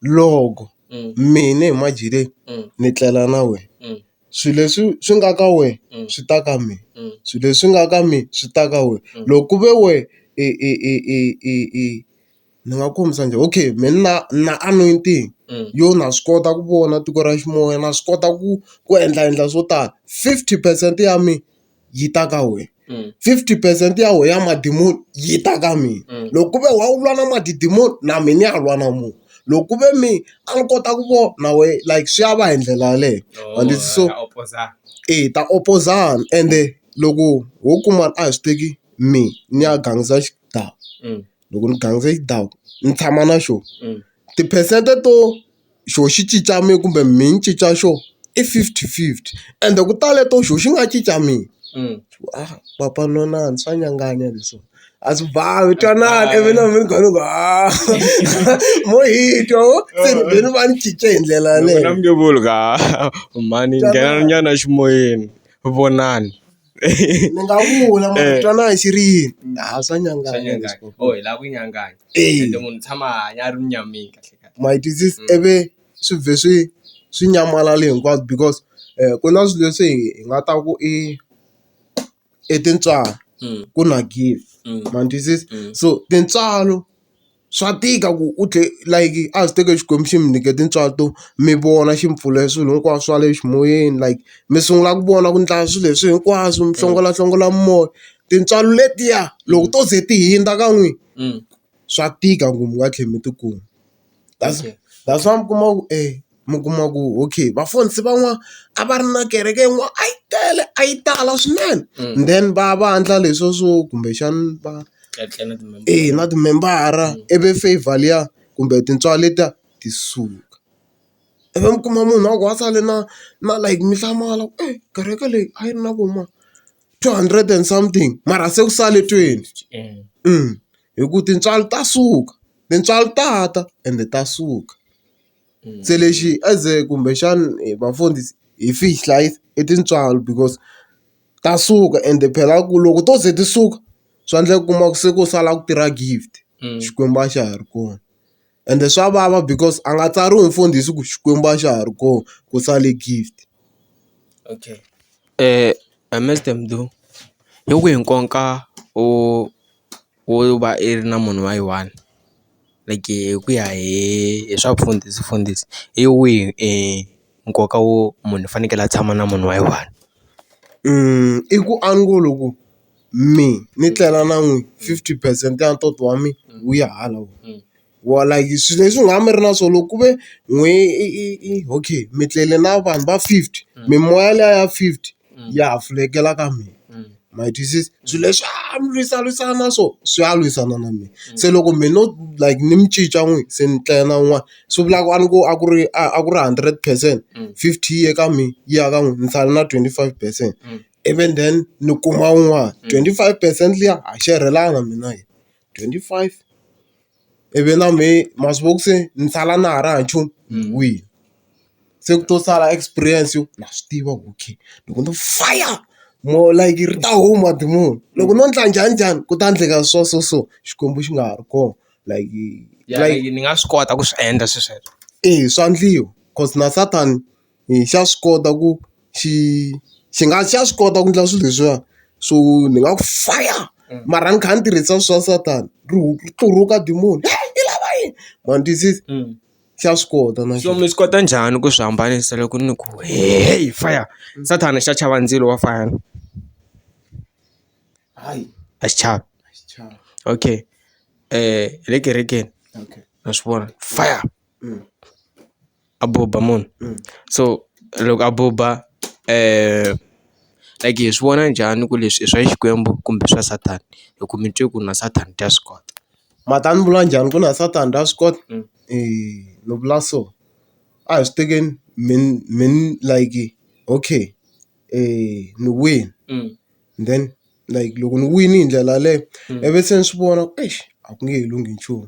loko mina hi madyele ni tlela na wena swilo leswi swi nga ka wena swi ta ka mina swilo leswi nga ka mina swi ta ka wena loko ku ve wena i i i i i i. Ni nga kombisa njhani okay mehe ni na ni na anointing yo na swi kota ku vona tiko ra xinuna na swi kota ku ku endla endla swo tala fifty percent ya mina yi ta ka wena fifty percent ya wena ya madimoni yi ta ka mina loko ku ve wa lwa na madimoni na mina ni ya lwa na munhu loko ku ve mina a ni kota ku vona na wehe like swi ya va hi ndlela yaleyo ma ni so hi ta opozana ende loko ho kuma a hi swi teki mehe ni ya gangisa xi dlawa. loko ni ganga hi ndhawu ni tshama na xona tiphesente to xona xi cinca mina kumbe mina ni cinca xona i fifty fifty ende ku tale to xona xi nga cinca mina papa no na swa nyanganya leswi a swi bavi twanana ivi na mina ni kha ni ku ha mo hi twa ho se ni be ni va ni cince hi ndlela yaleyo mhani nghenani nyana eximoyeni vonani. ni nga vula mara ku twanana hi xirini a swa nyanganya or hi lava ku nyanganya ende munhu u tshama a hanya a ri munyameni kahle kahle ma yi twisisa ivi swi vhe swi swi nyamalale hinkwabyo because ku na swilo leswi hi nga ta ku i i tintswalo ku na gezi ma ni twisisa so tintswalo. swa tika ku u tlhe like a swi teke Xikwembu xi mi nyike tintswalo mi vona xi mi pfulele swilo hinkwaswo swa le ximoyeni like mi sungula ku vona ku endla swilo leswi hinkwaswo mi hlongolahlongola moya tintswalo letiya loko to ze ti hundza ka n'wina swa tika ku mi nga tlhela mi tikuma that's that's why mi kuma ku e. mi kuma ku okay vafundhisi van'wana a va ri na kereke yin'wana a yi tele a yi tala swinene then va vandla leswiya swo kumbexana va eya na timembara ivi favor liya kumbe tintswalo letiya ti suka ivi mi kuma munhu a ku a sale na na like mihlamayo e kereke leyi a yi ri na vo ma two hundred and something mara se ku sale twenty hi ku tintswalo ta suka tintswalo ta ta ende ta suka. Se lexi as a kumbexana hi vafundhisi hi swi hlayisa i tintswalo because ta suka ende phela ku loko to ze ti suka swa endleka u kuma ku se ku sala ku tirha gift Xikwembu a xa ha ri kona ende swa vava because a nga tsariwi mfundhisi ku Xikwembu a xa ha ri kona ku sale gift. wo va i ri na munhu wa yi one like hi ku ya hi hi swa vufundhisi fundhisi hi wihi e nkoka wo munhu u fanekele a tshama na munhu wa yi one i ku a ngo lo ku me ni tlela na n'wina fifty percent ya ntoto wa mina wu ya hala. wa like swilo leswi nga mi ri na swona loko ku ve n'we okay mi tlele na vanhu va fifty mimoya liya ya fifty ya ha fulekela ka mina ma yi twisisa swilo leswi a mi lwisa lwisana na swona swi ya lwisana na mina se loko me no like ni mi cinca n'we se ni tlela na un'wana swi vula ku a ni ku a ku ri a ku ri hundred percent fifty yi ye ka mina yi ya ka n'we ni sale na twenty five percent ivi then ni kuma un'wana twenty five percent liya a xerhelana mina yena. twenty five ivi na mehe masiku ma ku se ni sala na ha ri hava nchumu ni wile se ku to sala experience yo na swi tiva ku okay loko no faya more like ri ta huma diromu loko no endla njhani njhani ku ta endleka so so so Xikwembu xi nga ha ri kona like like ni nga swi kota ku swi endla swilo sweswo eya swa endliwa cause na Satan hi xa swi kota ku xi xi nga xa swi kota ku endla swilo leswiwa so ni nga ku faya mara ni kha ni tirhisa swa satan ri tluruka demon heyi yi lava yini ma ni twisisa xa swi kota na xona mi swi kota njhani ku swi hambanisa loko ni ku heyi faya sathana xa chava ndzilo wa faya na hayi a xi chavi okay hi le kerekeni na swi vona faya. above ba moon so loko a buba like hi swi vona njhani ku leswi i swa xikwembu kumbe swa satan hi ku mi twe ku na satan ta swi kota ma ta ni vula njhani ku na satan ta swi kota ni vula so a hi swi tekeni min min like okay ni win then like loko ni win hi ndlela yaleyo ivi se ni swi vona ku eish a ku nge he lunghi nchumu.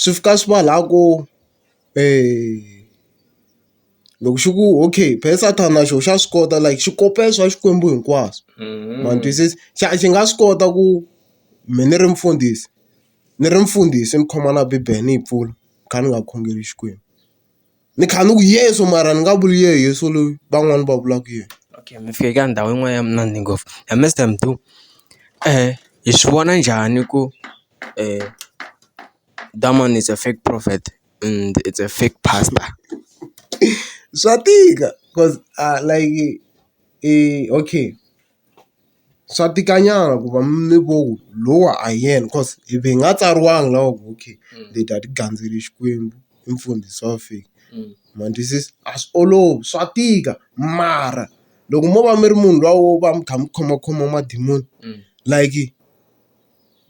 swi fika swi va laha ku loko xi ku okay phela Sathana na xona xa swi kota like xi kopela swa Xikwembu hinkwaswo ma ni twisisa xa xi nga swi kota ku me ni ri mfundhisi ni ri mfundhisi ni khoma na bibele ni yi pfula ni kha ni nga khongeli Xikwembu. ni kha ni ku yeso mara ni nga vuli ye yeso loyi van'wani va vulaka yena. Okay mi fike ka ndhawu yin'wana ya munandi ngopfu ya Mister Mdu hi swi vona njhani ku Diamond is a fake prophet and is a fake pastor. Swa tika cause a like okay. swa tika nyana ku va mi ngo lowa a hi yena coz hi hi nga tsariwangi la ku okay hi ta ti gandzela Xikwembu i mfundhisi wa fika ma twisisa a swi olovi swa tika mara loko mo va mi ri munhu luya wo va mi kha mi khomakhoma madimoni like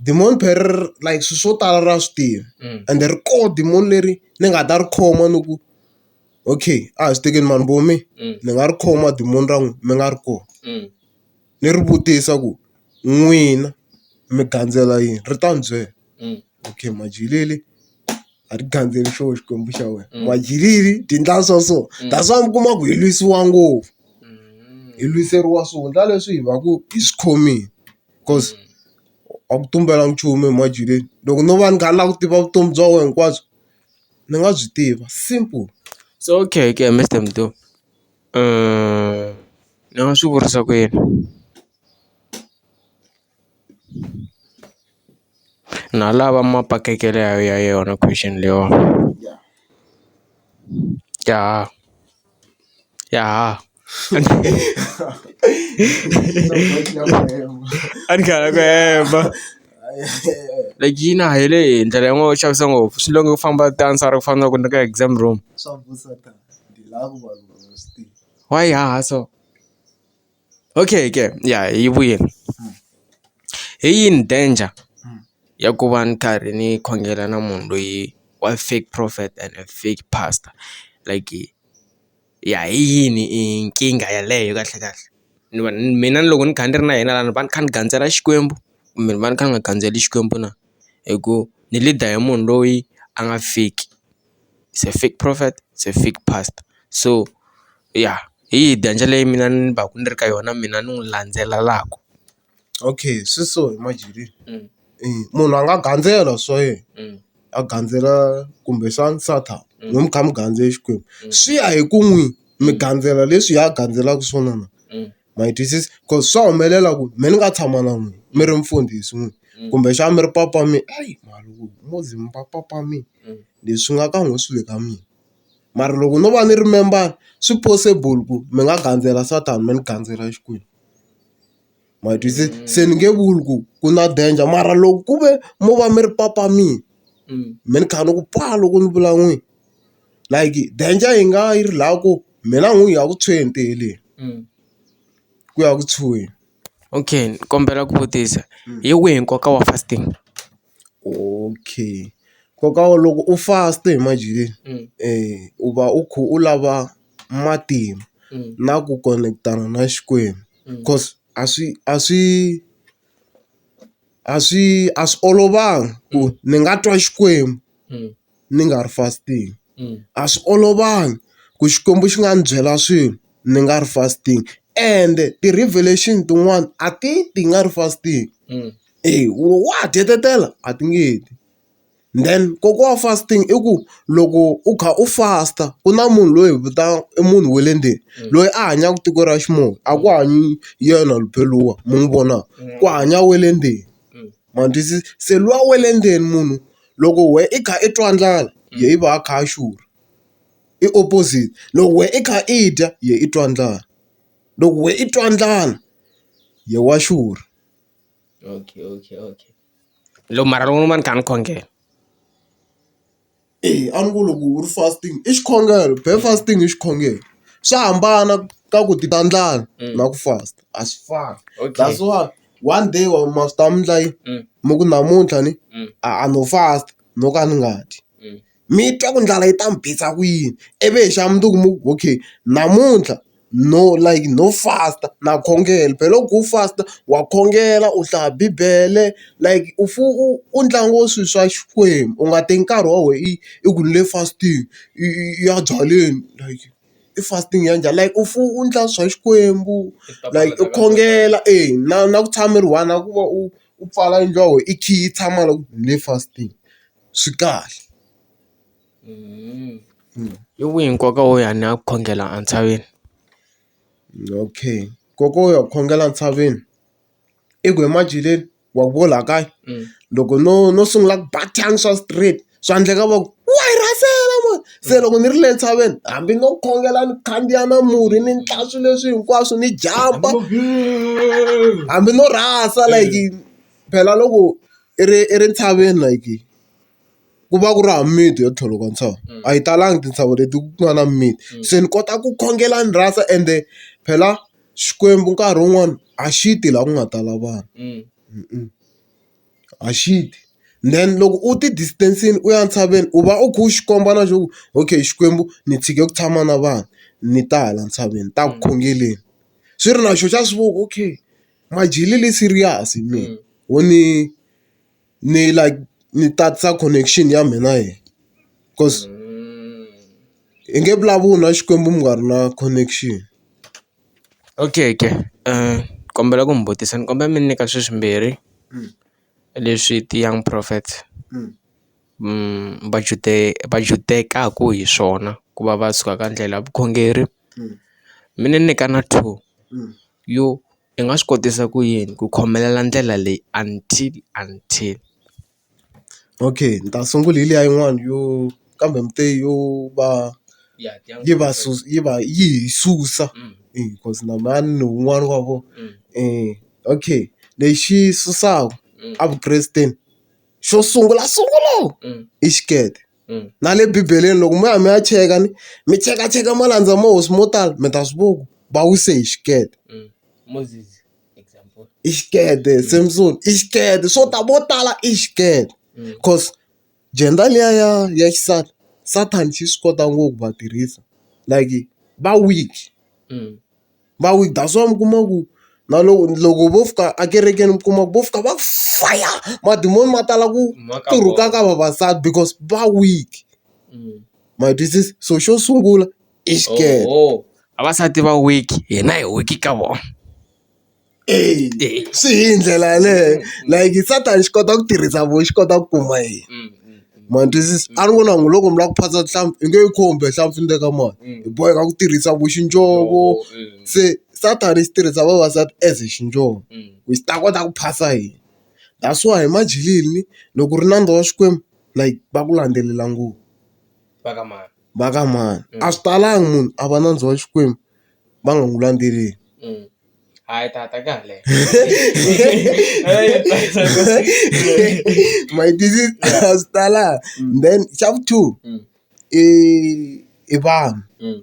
demon power like swilo swo tala ra swi tiva ende ri kona demon leri ni nga ta ri khoma ni ku. okay a hi swi tekeni mani vo mi ni nga ri khoma diromu ra n'wina mi nga ri kona ni ri vutisa ku n'wina mi gandzela yini ri ta ni byela okay majigilele a ri gandzeli xona xikwembu xa wena majigilele byi endla so so that's why mi kuma ku hi lwisiwa ngopfu hi lwiseriwa swivundla leswi hi va ku hi swi khomile because a ku tumbelanga nchumu emajigileni loko no va ni kha ni lava ku tiva vutomi bya wena hinkwabyo. ni nga byi tiva simple. Se okay ke Mister Mdu ni nga swi vurisa ku yini na lava mapakekele ya ya yona question leyiwani ya ya. a ni karhala ku hemba like yi na helo hi ndlela yin'wani yo chavisa ngopfu swi lava ku famba ti answer ku fana na loko ni ri ka exam room why yi haha so okay ke ya yi vuyile hi yini danger ya ku va ni karhi ni khongela na munhu loyi wa fake prophet and fake pastor like. ya hi yini i nkingha yeleyo kahle kahle ni va ni mina ni loko ni kha ni ri na yena la ni va ni kha ni gandzela Xikwembu kumbe ni va ni kha ni nga gandzeli Xikwembu na hi ku ni leader hi munhu loyi a nga fiki is a fake prophet is a fake pastor so ya hi yi dya ndlela leyi mina ni va ku ni ri ka yona mina ni n'wi landzelelaku. Okay swi so hi Marjorie munhu a nga gandzela swa yena a gandzela kumbexana nsati mi kha mi gandze Xikwembu swi ya hi ku n'wini mi gandzela leswi hi a gandzelaka swona na ma yi twisisa ku swa humelela ku me ni nga tshama na n'wina mi ri mfundhisi n'wini kumbexana mi ri papa mi hayi malume papa mi leswi nga ka n'wina swi le ka mina mara loko no va ni ri membara swi possible ku mi nga gandzela Satan mi ni gandzela Xikwembu. ma hi twisisa se ni nge vuli ku ku na danger mara loko ku ve mo va mi ri papamile me ni kha ni ku paa loko ni vula n'wini like danger yi nga yi ri la ku mina n'wini hi ya ku tshweni te heleni ku ya ku tshuweni. Okay ni kombela ku vutisa hi wihi nkoka wa fasting. Okay nkoka wa loko u fast hi manjhe u va u kha u lava matimba na ku konetana na Xikwembu coz a swi a swi a swi a swi olovanga ku ni nga twa Xikwembu. ni nga ri fasting a swi olovanga ku Xikwembu xi nga ndzi byela swilo ni nga ri fasting ende ti-revelation tin'wani a ti ti nga ri fasting eya u wa ha tietetela a ti nge ti then nkoka wa fasting i ku loko u kha u fast ku na munhu loyi hi vitanaka i munhu wa le ndzeni loyi a hanyaka tiko ra ximumu a ku hanyi yena lumpela luwa mi n'wi vonaka ku hanya wa le ndzeni. ma ni twisisa se luwa wa le ndzeni munhu loko wehe i kha i twa ndlala yehe i va a kha a xurha i opposite loko wehe i kha i dya yehe i twa ndlala loko wehe i twa ndlala yehe wa xurha okay okay okay mara loko ni va ni kha ni khongela. Eya a ni ku loko u ri fasting i xikhongelo be fasting i xikhongelo swa hambana ka ku ti ta ndlala na ku fast a swi fani that's why one day wa ma swi tiva endla yini mi ku namuntlha ni a no fast no ka ni nga dyi mi twa ku ndlala yi ta mi bisa ku yini ivi hi xa mundzuku mi ku okay namuntlha no like no fast-a na khongela phela loko u fast-a wa khongela u hlaya bibele like u u u ntlangu wa swilo swa Xikwembu u nga teki nkarhi wa wena i i ku ni le fast-ing i i ya byaleni like i fast-ing ya njhani like u fanele u endla swa Xikwembu like u khongela e na na ku tshama mi ri one na ku va u u pfala yindlu ya wena i khiyi i tshama la ku ni le fast-ing swi kahle. I wihi nkoka wo ya ni ya khongela entshaveni? Okay nkoka wo ya ku khongela entshaveni i ku ematjilweni wa ku la kaya loko no no sungula ku ba thyana swa straight swa endleka va ku wa hi rhasela mani se loko ni ri le ntshaveni hambi no khongela ni khandziya na murhi ni ndla swi leswi hinkwaswo ni jampa hambi no rhasa like phela loko i ri entshaveni like. ku va ku ri hava mimiti yo tlhela ka ntshava a yi talangi tintshava leti ku nga na mimiti se ni kota ku khongela ni rhasa ende phela Xikwembu nkarhi wun'wani a xi ti laha ku nga tala vanhu a xi ti then loko u ti distance-ini u ya ntshaveni u va u kha u xi komba na swa ku okay Xikwembu ni tshike ku tshama na vanhu ni ta hala ntshaveni ni ta ku khongeleni swi ri na xoho xa swi vona okay majele le serious mina wo ni. ni like ni tatisa connection ya mina hi coz hi nge vulavuli na Xikwembu mi nga ri na connection. Okay ke ni kombela ku mi vutisa ni kombela mi nyika sweswi mbirhi leswi ti-young prophets va va judekaku hi swona ku va va suka ka ndlela ya vukhongeri mi ni nyika na two yo. i nga swi kotisa ku yini ku khomelela ndlela leyi until until. Okay ni ta sungula hi liya yin'wani yo kambe yo va yi va yi va yi hi susa cause na mani ni wun'wani wa vona okay lexi susaka evukresteni xo sungula sungula i xikete. Na le bibeleni loko mo ya mi ya cheka ni mi chekacheka malandza ma hosi mo tala mi ta swi vona ku va wise hi xikete i xikete Samson i xikete swo tala vo tala i xikete cause gender liya ya ya xisati Satan xi swi kota ngopfu ku va tirhisa like va weak. va wile that's why mi kuma ku na loko loko vo fika ekerekeni mi kuma vo fika va ku faya madimoni ma tala ku turuka ka vavasati because va weak ma yi twisisa so xo sungula i xikele vavasati va weak hina hi weak ka vona. Eya swi hi ndlela yaleyo like Satan xi kota ku tirhisa voho xi kota ku kuma yini ma twisisa a ri vona loko mi lava ku phasa nhlampfi i nge yi khumbi nhlampfi ni le ka mali hi boheka ku tirhisa vo xindzovo se Satan xi tirhisa vavasati as xindzovo ku xi ta kota ku phasa hina that's why hi majilini loko u ri nandza wa Xikwembu like va ku landzelela ngopfu va ka mani va ka mani a swi talangi munhu a va nandza wa Xikwembu va nga n'wi landzeleli. Ah, está, está acá. My disease has tala. Mm. Then chapter 2 mm. i i vanhu. Mm.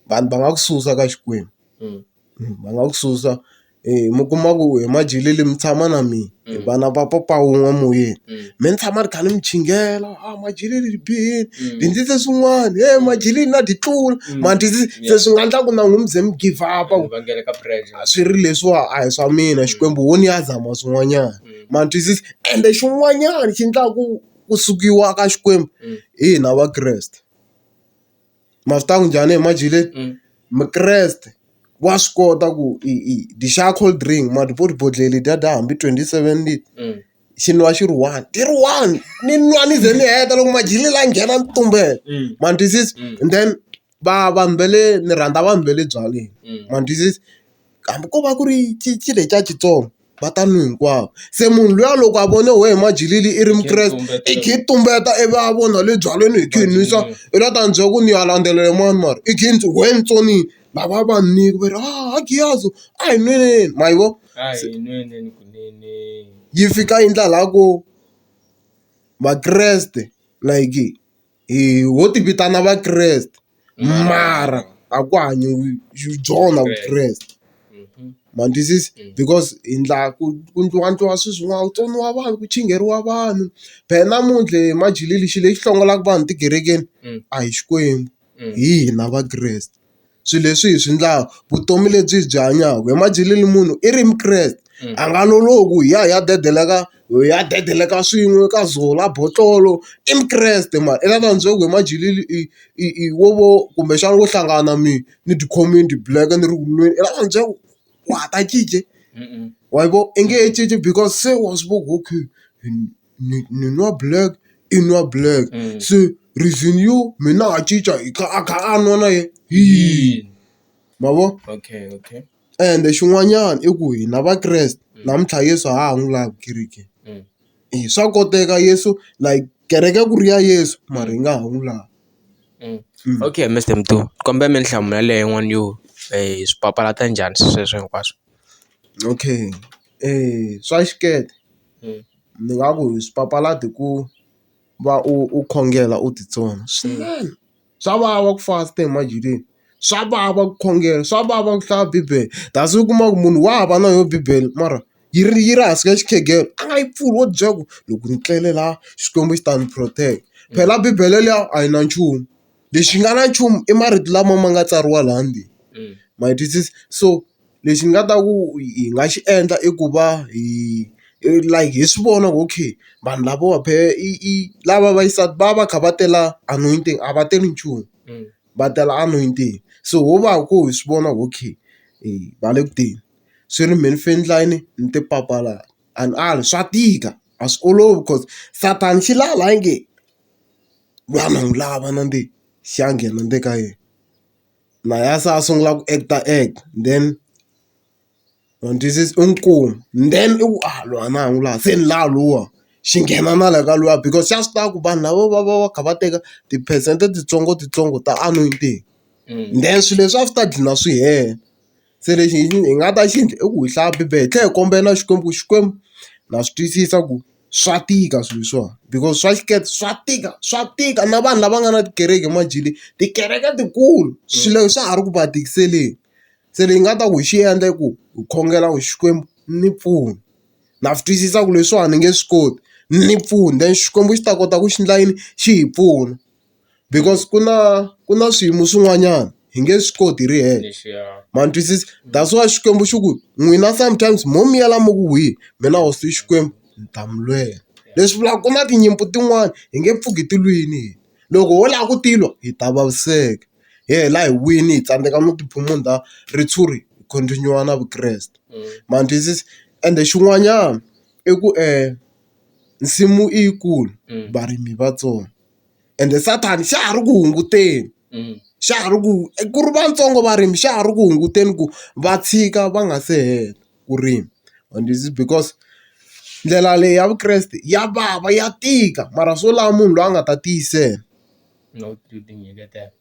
Vanhu va nga ku susa ka Xikwembu. Mm. mm. Va nga ku susa eh mi kuma ku hi majele le mi tshama na mina. hi va na va papa wun'we moyeni me ni tshama ni kha ni mi chingela a majileni ni bihile ni endlise swin'wana he majileni na ti tlula ma ni se swi nga endla ku na n'wina mi ze mi give up-a ku a swi ri leswiwa a hi swa mina Xikwembu ho ni ya zama swin'wanyana ma ni twisisa ende xin'wanyana xi endlaku ku sukiwa ka Xikwembu hi hina Vakreste. ma swi tiva ku njhani ma dyile mukreste wa swi kota ku i i dyi xava cold drink ma dyi ku ri bodlhela ledyiya dya hambi twenty seven xi nwiwa xi ri one ti ri one ni nwa ni ze ni heta loko madyele laha nghena ni tumbela ma ni twisisa and then va vanhu va le ni rhandza vanhu va le byaleni ma ni twisisa. hambi ko va ku ri cinci le xa xitsongo va ta n'wi hinkwavo se munhu luya loko a vone wehe majikile i ri mukreste i kha i tumbeta i va a vona le byaleni i kha i nwisa i la ta ni byela ku ni ya landzelela mani mara i kha i ni byela ku wena ntsonini lava va ni va ri ha Giyazi a hi nweleni ma yi vona yi fika yi endla la ku Vakreste like. hi ho ti vitana Vakreste mara a ku hanyiwi hi byona Vukreste. Ma ni twisisa? Because hi endla ku ku endliwa endliwa swilo swin'wana ku tsoniwa vanhu, ku chingeriwa vanhu. Phela namuntlha hi majele lexi lexi hlongolaka vanhu tikerekeni a hi Xikwembu hi hina Vakreste. swilo leswi hi swi endlaka vutomi lebyi hi byi hanyaka hi madyele ni munhu i ri mukreste a nga lolohi hi ya hi ya dedela ka hi ya dedela ka swin'we ka zola botlolo i mukreste mara i lava byela ku hi madyele i i i wo vo kumbexana wo hlangana na mina ni tikhome ni ti black ni ri ku nweni i lava ku ni byela ku wa ha ta cinca wa yi vona i nge he cinci because se wa swi vona ku okay. ni ni nwa black i nwa black se reason yo me na ha cinca hi kha a kha a nwa na ye hi yini ma vo okay okay ende xin'wanyana i ku hina vakreste namuntlha Yeso a ha ha n'wi lavi ekerekeni e swa koteka Yeso like kereke ku ri ya Yeso mara hi nga ha n'wi lavi okay Mister Mdu ni kombela mi ni hlamula leyi n'wana yo hi swi papalata njhani swilo sweswo hinkwaswo okay swa xikete. Ndzi nga ku swi papalata hi ku va u u khongela u titsona swinene. Swa vava ku fasta ematini, swa vava ku khongela, swa vava ku hlaya bibele. Kasi u kuma ku munhu wa hava na yona bibele mara yi ri yi ri hansi ka xikhegelo, a nga yi pfuli wo byela ku loko ni tlele laha Xikwembu xi ta ni protect-a. Phela bibele liya a yi na nchumu, lexi nga na nchumu i marito lama ma nga tsariwa laha ndzeni. Ma yi twisisa? So. Lexi ni nga ta ku hi nga xi endla i ku va hi like hi swi vona ku okay vanhu lavawa phela i i lava va xisati va va va kha va tela anointing a va teli nchumu va tela anointing so ho va ku hi swi vona okay va le ku teni swi ri mehe ni fane ni yini ni ti papalata and a swa tika a swi olovi coz Satan xi la hala nge lwa na n'wi lava na ndzeni xa nghena ndzeni ka yena. na yena se a sungula ku act-a act then u n'wi twisisa u n'wi kuma then i ku a loyi a na ha n'wi lavi se ni lava luwa xi nghena na le ka luwa because xa swi tiva ku vanhu lava va va va kha va teka tiphesente titsongo titsongo ta anointing then swilo leswi a swi ta gcina swi hela. Se lexi hi hi nga ta xi endla i ku hi hlaya bibele hi tlhela hi kombela na Xikwembu ku Xikwembu na swi twisisa ku swa tika swilo leswiwani because swa xikreste swa tika swa tika na vanhu lava nga na tikereke emadyelweni tikereke tikulu swilo swa ha ri ku va tikiseleni se leyi nga ta ku hi xi endla i ku hi khongela ku Xikwembu ni pfuna na swi twisisa ku leswiwani ni nge swi koti ni pfuna then Xikwembu xi ta kota ku xi endla yini xi hi pfuna. because ku na ku na swiyimo swin'wanyana hi nge swi koti hi ri hexe ma ni twisisa that's why Xikwembu xi ku n'wina sometimes mo miyela mi ku wihi mina hosi Xikwembu ni ta mi lwela leswi vulaka ku na tinyimpi tin'wani hi nge pfuki ti lwini hina loko ho lava ku ti lwa hi ta vaviseka hi hela hi wini hi tsandzeka no ti phumunda ritshuri hi continue na vukreste ma ni twisisa ende xin'wanyana i ku nsimu i yi kulu varimi i vatsongo. ende sathana xa ha ri ku hunguteni xa ha ri ku ku ri vatsongo varimi xa ha ri ku hunguteni ku va tshika va nga se hela ku rima and is because ndlela leyi ya vukreste ya vava ya tika mara swo lava munhu loyi a nga ta tiyisela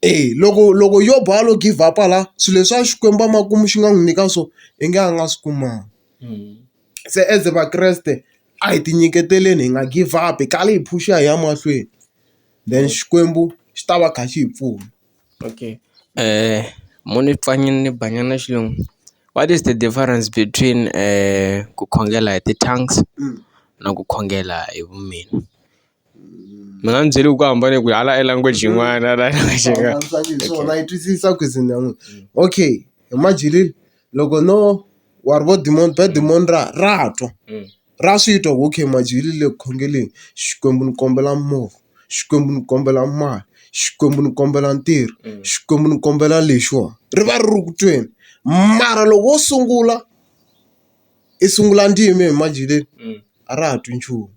e loko loko yo ba a lo give up-a la swilo leswiya Xikwembu a makumu xi nga n'wi nyika swona i nge a nga swi kumanga. Se as Vakreste a hi ti nyiketeleni hi nga give up-i, hi karhi hi phush-a hi ya mahlweni. Then Xikwembu xi ta va kha xi hi pfuna. Okay mune ni Banyana Xilungu. What is the difference between ku khongela hi ti-tongues na ku khongela hi vu mina? Mina a ni byeli ku hambane ku hala i language yin'wana hala swona yi twisisa ku ze ni ya n'wi okay hi madyele loko no wa ri vo demand va demand ra ra twa ra swi twa ku okay madyele le ku khongeleni Xikwembu ni kombela movha Xikwembu ni kombela mali Xikwembu ni kombela ntirho Xikwembu ni kombela lexiwani ri va ri ri ku tweni mara loko wo sungula i sungula ndzimi hi madyeleni a ra ha twi nchumu.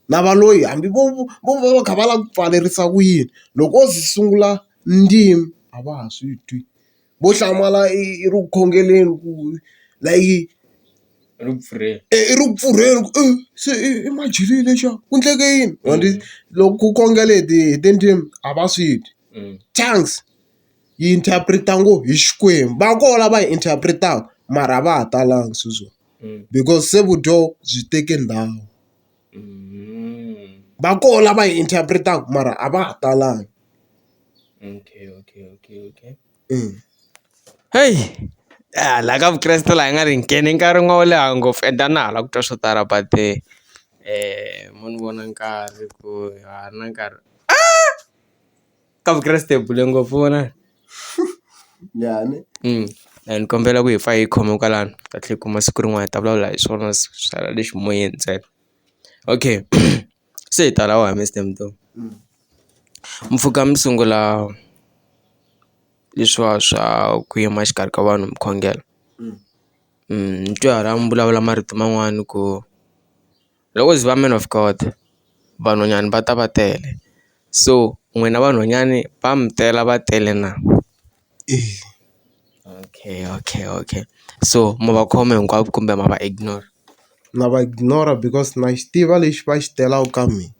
na va loyi hambi vo vo va va kha va lava ku pfalerisa ku yini loko o ze a sungula ndzimi a va ha swi twi vo hlamala i i ri ku khongeleni ku layite i ri ku pfurheni i ri ku pfurheni ku i se i i majirini lexiya ku endleke yini ma ri loko ku khongela hi ti hi tindzimi a va swi twi chance yi interpret-a ngo hi Xikwembu va koho lava hi interpret-aka mara a va ha talanga sweswiwani because se vudyoho byi teke ndhawu. Va kona lava yi interpret-aka mara a va ha talangi. Heyi laha ka Vukreste laha hi nga ri hi nghene enkarhini wa wo leha ngopfu and a na ha lavi ku twa swo tala but mo ni vona nkarhi ku ha ri na nkarhi . ka vukreste hi bule ngopfu vona njhani mm. and ni kombela ku hi fa hi khome kwalano ta tlhe kuma siku rin'wana hi ta vulavula hi swona sala lexi moyeni ntsena okay se hi tala wa mr mto mm. mpfhuka mi sungula leswiwa swa ku yima xikarhi ka vanhu mi khongela mm. mm, ni twe hara mi vulavula marito man'wani ku Loko ko ze ku va man of God vanhwanyani va ta va tele so n'wina vanhwanyani va mi tela va tele na okay okay okay so ma va khoma hinkwavo kumbe ma va ignore na va ignore because na xi tiva lexi va xi telaka ka mina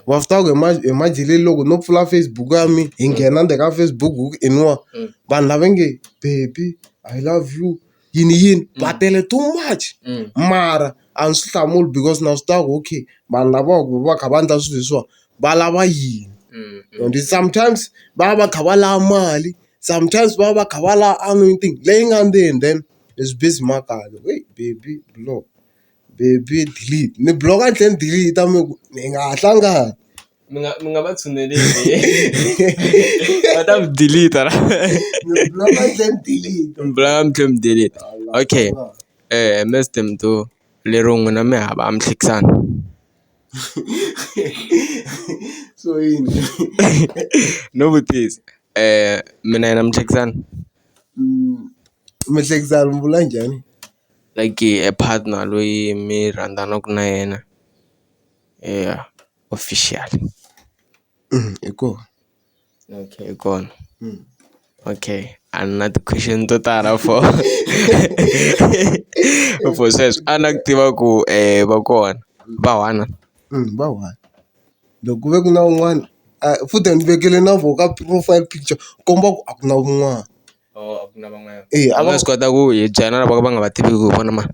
wa swi tiva ku hi hi majele loko no pfula Facebook ya mina hi nghena le ka Facebook ku i nwa vanhu lava nge baby I love you. yiniyini va tele too much mara a ndzi swi hlamuli because na swi tiva ku okay vanhu lava va ku va kha va endla swilo leswiwani va lava yini and sometimes va va va kha va lava mali sometimes va va va kha va lava anointing leyi nga ndzeni then is busy makaya wee baby block baby delete ni block-a ni tlhela ni delete-a ni ku hi nga ha hlangani. mi nga mi nga va tshuneleli va ta mi delete ra mi block-a mi tlhela mi delete mi block-a mi tlhela mi delete okay Mister Temto lero n'wina mi hava a mi hlekisani so yini no vutisa mi na yena mi hlekisana mi hlekisana mi vula njhani like a partner loyi mi rhandzanaka na yena eya. official hi kona okay hi kona okay a ni na ti-question to tala for for sweswo a na ku tiva ku um va kona va one va one loko ku ve ku na un'wana a futhi a ni vekele na voho ka profile picture ku komba ku a ku na un'wana. a va swi kota ku hi byela lava va nga va tiviki ku vona ma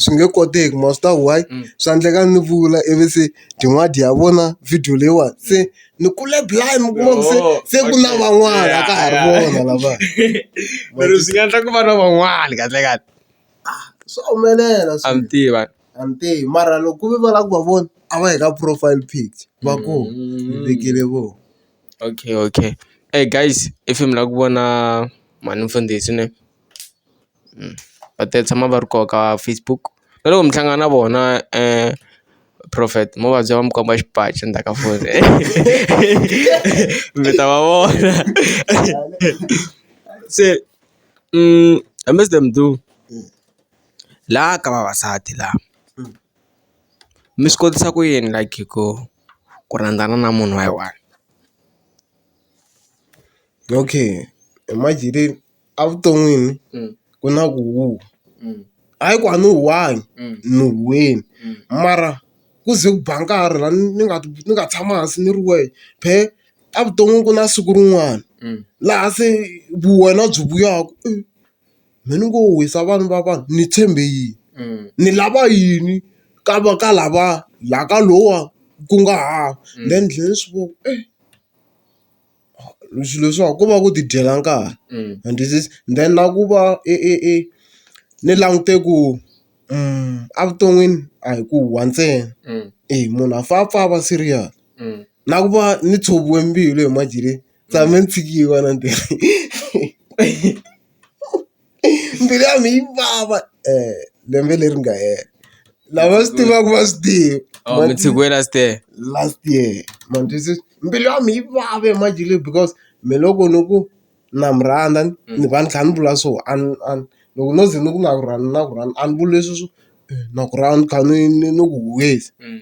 swi nge koteki ma swi tiva why swa endleka ni vula ivi se tin'wani dya vona video leyiwani se ni kule blind mi kuma ku se se ku na van'wana a ka ha ri vona lava mara swi nga endla ku va na van'wana kahlekahle swa humelela swa mi tiva a mi tivi mara loko ku ve va lava ku va vona a va yi ka profile pic va ku hi vekele vona. Okay okay ey guys i fane mi lava ku vona mhani Mfundhisi ne va ta tshama va ri koho ka Facebook na loko mi hlangana na vona Prophet mo va byela va mi komba xipaci endzhaku ka foni mi ta va vona se I miss them too laha ka vavasati laha mi swi kotisa ku yini like ku. ku rhandzana na munhu wa yi one okay imagine evuton'wini ku na ku hayi ku a ni one ni wini mara ku ze ku ba nkarhi la ni nga ni nga tshama hansi ni ri wehe phela evuton'wini ku na siku rin'wana laha se vu wena byi vuyaka . Me ni ngo wisa vanhu va vanhu ni tshembe yini ni lava yini ka va ka lava la ka lowa ku nga hava then ni tlhela ni swi vona ku ri swilo leswiwa ko va ku ti dyela nkarhi and this is then na ku va i i i ni langute ku evuton'wini a hi ku huhwa ntsena e munhu a fane a pfa a va serious na ku va ni tshoviwe mbilu hi madyele. tshame ni tshikiwa na ntirho mbilu ya mina yi vava um lembe leri nga hela lava swi tivaka va swi tiva Oh, mi tshikiwe last year last year matwisisa mbilu ya mi yi vava emajele because me loko ni ku na mi rhandza ni- ni va ni kha ni vula so a ni- a ni- loko no ze ni ku na ku rhandza na ku rhandza a ni vuli leswi swo eh, na ku rhandza ni kha ni ni ni ku huwisa Mm.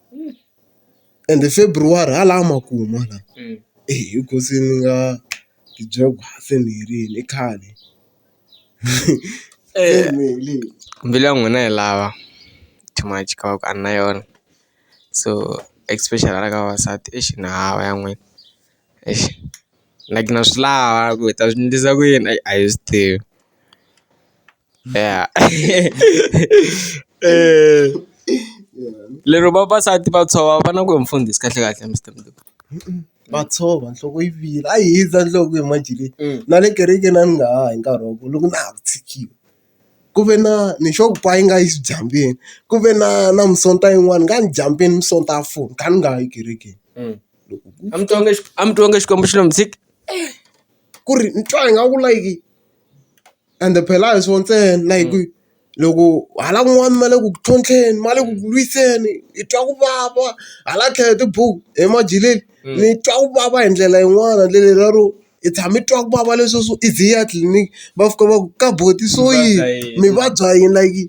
ende February ha laha makumu hala hi ku se ni nga ti byela ku se ni herile i khale mbilu ya n'wina yi lava too much ka va ku a ni na yona so especially hala ka vavasati eish ni hava ya n'wina eish like na swi lava ku hi ta swi endlisa ku yini a hi swi tivi. Yeah. Eh. Lero vavasati va tshova va na ku mfundhisi kahle kahle Mister Mulebi. Va tshova nhloko yi vila a yi hindza nhloko hi manjheni na le kerekeni a ni nga ha hi nkarhi wa ku loko na ha ku tshikile ku ve na ni xo ku pa yi nga yi xidyambini ku ve na na misonta yin'wana ni nga ni dyambini misonta ya foni kha ni nga ha yi ekerekeni A mi twanga a mi twanga Xikwembu xi lo mi tshiki. ku ri ni twa ingaku like. Ende phela a hi swona ntsena na hi ku loko hala kun'wana ma le ku tlhontlheni ma le ku ku lwiseni hi twa ku vava hala tlhelo hi tibuku emajileni ni twa ku vava hi ndlela yin'wana ndlela lero hi tshama hi twa ku vava leswi swo i ze i ya tliliniki va fika va ku ka buti i swo yini mi vabya yini like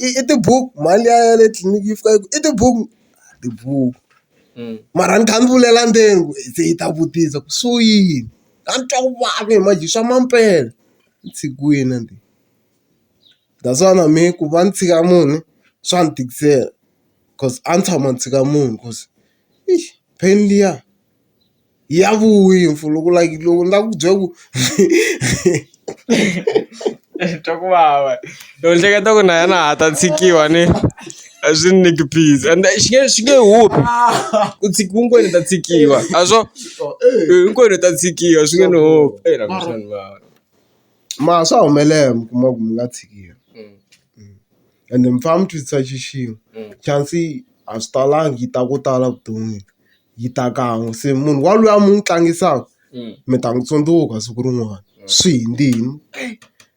i i tibuku mhani liya ya le tliliniki yi fika yi ku i tibuku tibuku mara ni kha ni vulela ndzeni ku se yi ta vutisa ku swo yini a ni twa ku vava hi manje swa mampela. ntshikilweni that's why na mehe ku va ni tshika munhu swa ni tikisela cause a ni tshama ni tshika munhu cause i pain liya ya vuya mfana loko like loko ni lava ku byela ku ni twa ku vava ni ehleketa ku na yena a ta tshikiwa ni. azvini nekupiza and chinge chinge hope kuti kungori tatsikiwa azvo kungori tatsikiwa zvinge no hope eh ramshani mara ma swa humelela mi kuma ku mi nga tshikiwi ende mi fane mi twisisa xi xin'we chance a swi talangi yi ta ko tala vuton'wini yi ta kan'we se munhu wa luya mi n'wi tlangisaka mi ta n'wi tsundzuka siku rin'wana swi hi ndini.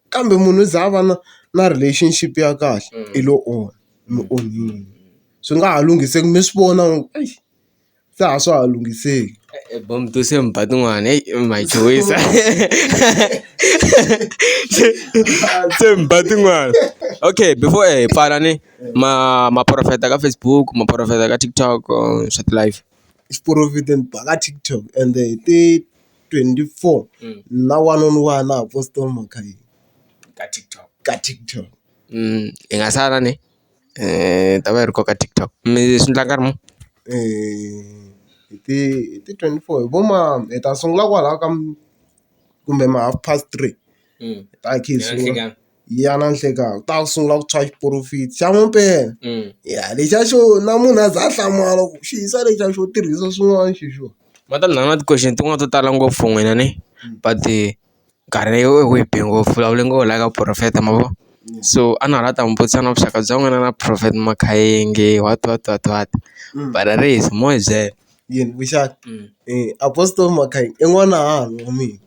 kambe munhu u za a va na na relationship ya kahle i lo onha mi onhile swi nga ha lunghiseki mi swi vona ku ri exi se a swa ha lunghiseki. Tibomo to se mi ba tin'wana heyi ma hi chuhisa se mi ba tin'wana okay before hi pfala ni ma ma profit-a ka Facebook ma profit-a ka TikTok swa ti-live. Xiporofidi ni ba ka TikTok ende hi ti. twenty-four na one on one na ha post mhaka leyi ka TikTok ka TikTok hi nga sala ni ta va yi ri koho ka TikTok mi swi endla nkarhi muni hi ti hi ti twenty-four hi vo ma hi ta sungula kwalaya ka kumbe ma half past three hi ta khe hi sungula. ya na nhlikani u ta sungula ku tshwa xiporofita xa mampela ya lexiya xo na munhu a za a hlamala ku xi hisa lexiya xo tirhisa swin'wana xi xo va ta na na ti-question tin'wani to tala ngopfu n'wina ni but nkarhi wu hi be ngopfu hi vulavule ngopfu laha ka profeta ma vo so a na ha la ta mi vutisa na vuxaka bya n'wina na profeta Makhayengi what what what what but a ri hisi mo hi byela. yini muxaka apostle mhaka i n'wana hahani wa mina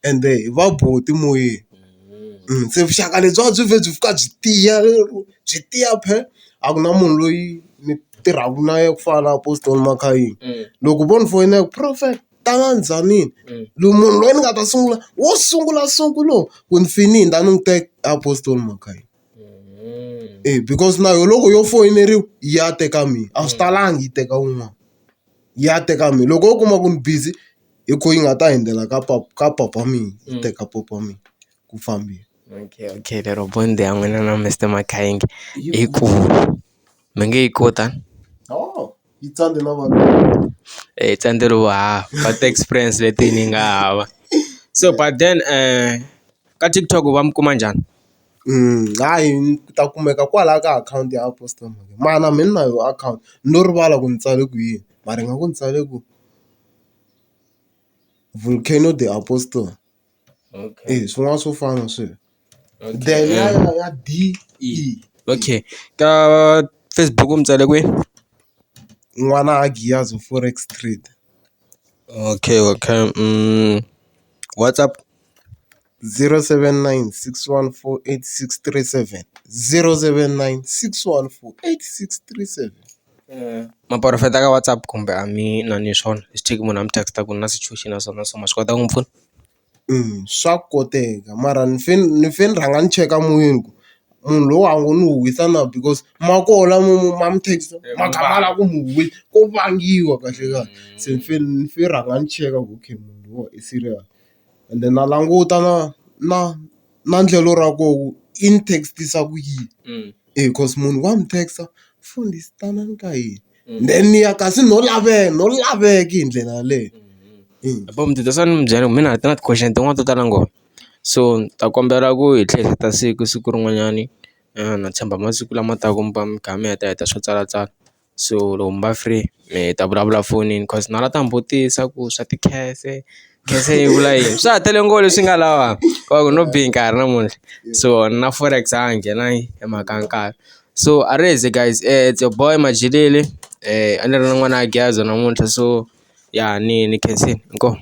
ende hi va buti moyeni se vuxaka lebyi a byi vhe byi fika byi tiya byi tiya phela a ku na munhu loyi ni tirhaka na yena ku fana na apostle mhaka yini loko vo ni foyina ku profeta tanani zwanini loyi munhu loyi ni nga ta sungula wo sungula so ku lowu ku ni fini ni ta ni n'wi teka apostle mhaka yini. E because na yo loko yo foyineriwa ya teka mina a swi talangi yi teka wun'wana ya teka mina loko wo kuma ku ni busy hi kho yi nga ta hundzela ka papa ka papa mina yi teka papa mina ku fambile. Okay okay lero bond ya n'wina na Mister Makhayengi i ku mi nge yi kota yi tsandze na vanhu yi tsandze lomu hava va ti experience leti ni nga hava so but then ka TikTok va mi kuma njhani? Hayi ni ta kumeka kwalaya ka akhawunti ya post-a mara me ni na yona akhawunti no rivala ku ni tsale ku yini mara hi nga ku ni tsale ku vulcano de apostol e swin'wana swo fana sweswo then ya ya ya D E okay ka Facebook u ni tsale kwini n'wana a Giyani forex trade okay okay WhatsApp. 079 614 8637 079 614 8637. Maporofeta ka WhatsApp kumbe a mi na ni swona swi tiva ku munhu a mi text-a ku na situation na so na so ma swi kota ku n'wi pfuna. Swa koteka mara ni fe ni fe ni rhanga ni cheka moyeni ku munhu loyi a ngo ni huhisa na because ma koho lama ma mi text ma kha ma lava ku mi huhisa ko vangiwa kahlekahle se ni fe ni fe ni rhanga ni cheka ku okay munhu loyiwani i serious. ende na languta na na na endlelo ra koho ku i ni text-isa ku yini e coz munhu wa ni text-a mfundhisi tanani ka hina then ni ya kasi no laveka no laveka hi ndlela yaleyo mina na ti-question tin'wana to tala ngopfu so ni ta kombela ku hi tlhela hi ta siku siku rin'wanyani na tshemba masiku lama taka mi kha mi heta heta swo tsalatsala. so loko mi va free mi ta vulavula fonini coz na la ta mi vutisa ku swa tikhefe khefe yi vula yini swa ha tele ngopfu leswi nga lava va ku no be nkarhi namuntlha so na forex a ha nghenangi hi mhaka ya nkarhi so a ri ze guys it's your boy Majilili a ni ri na n'wana Geza namuntlha so ya ni ni khensile inkomu.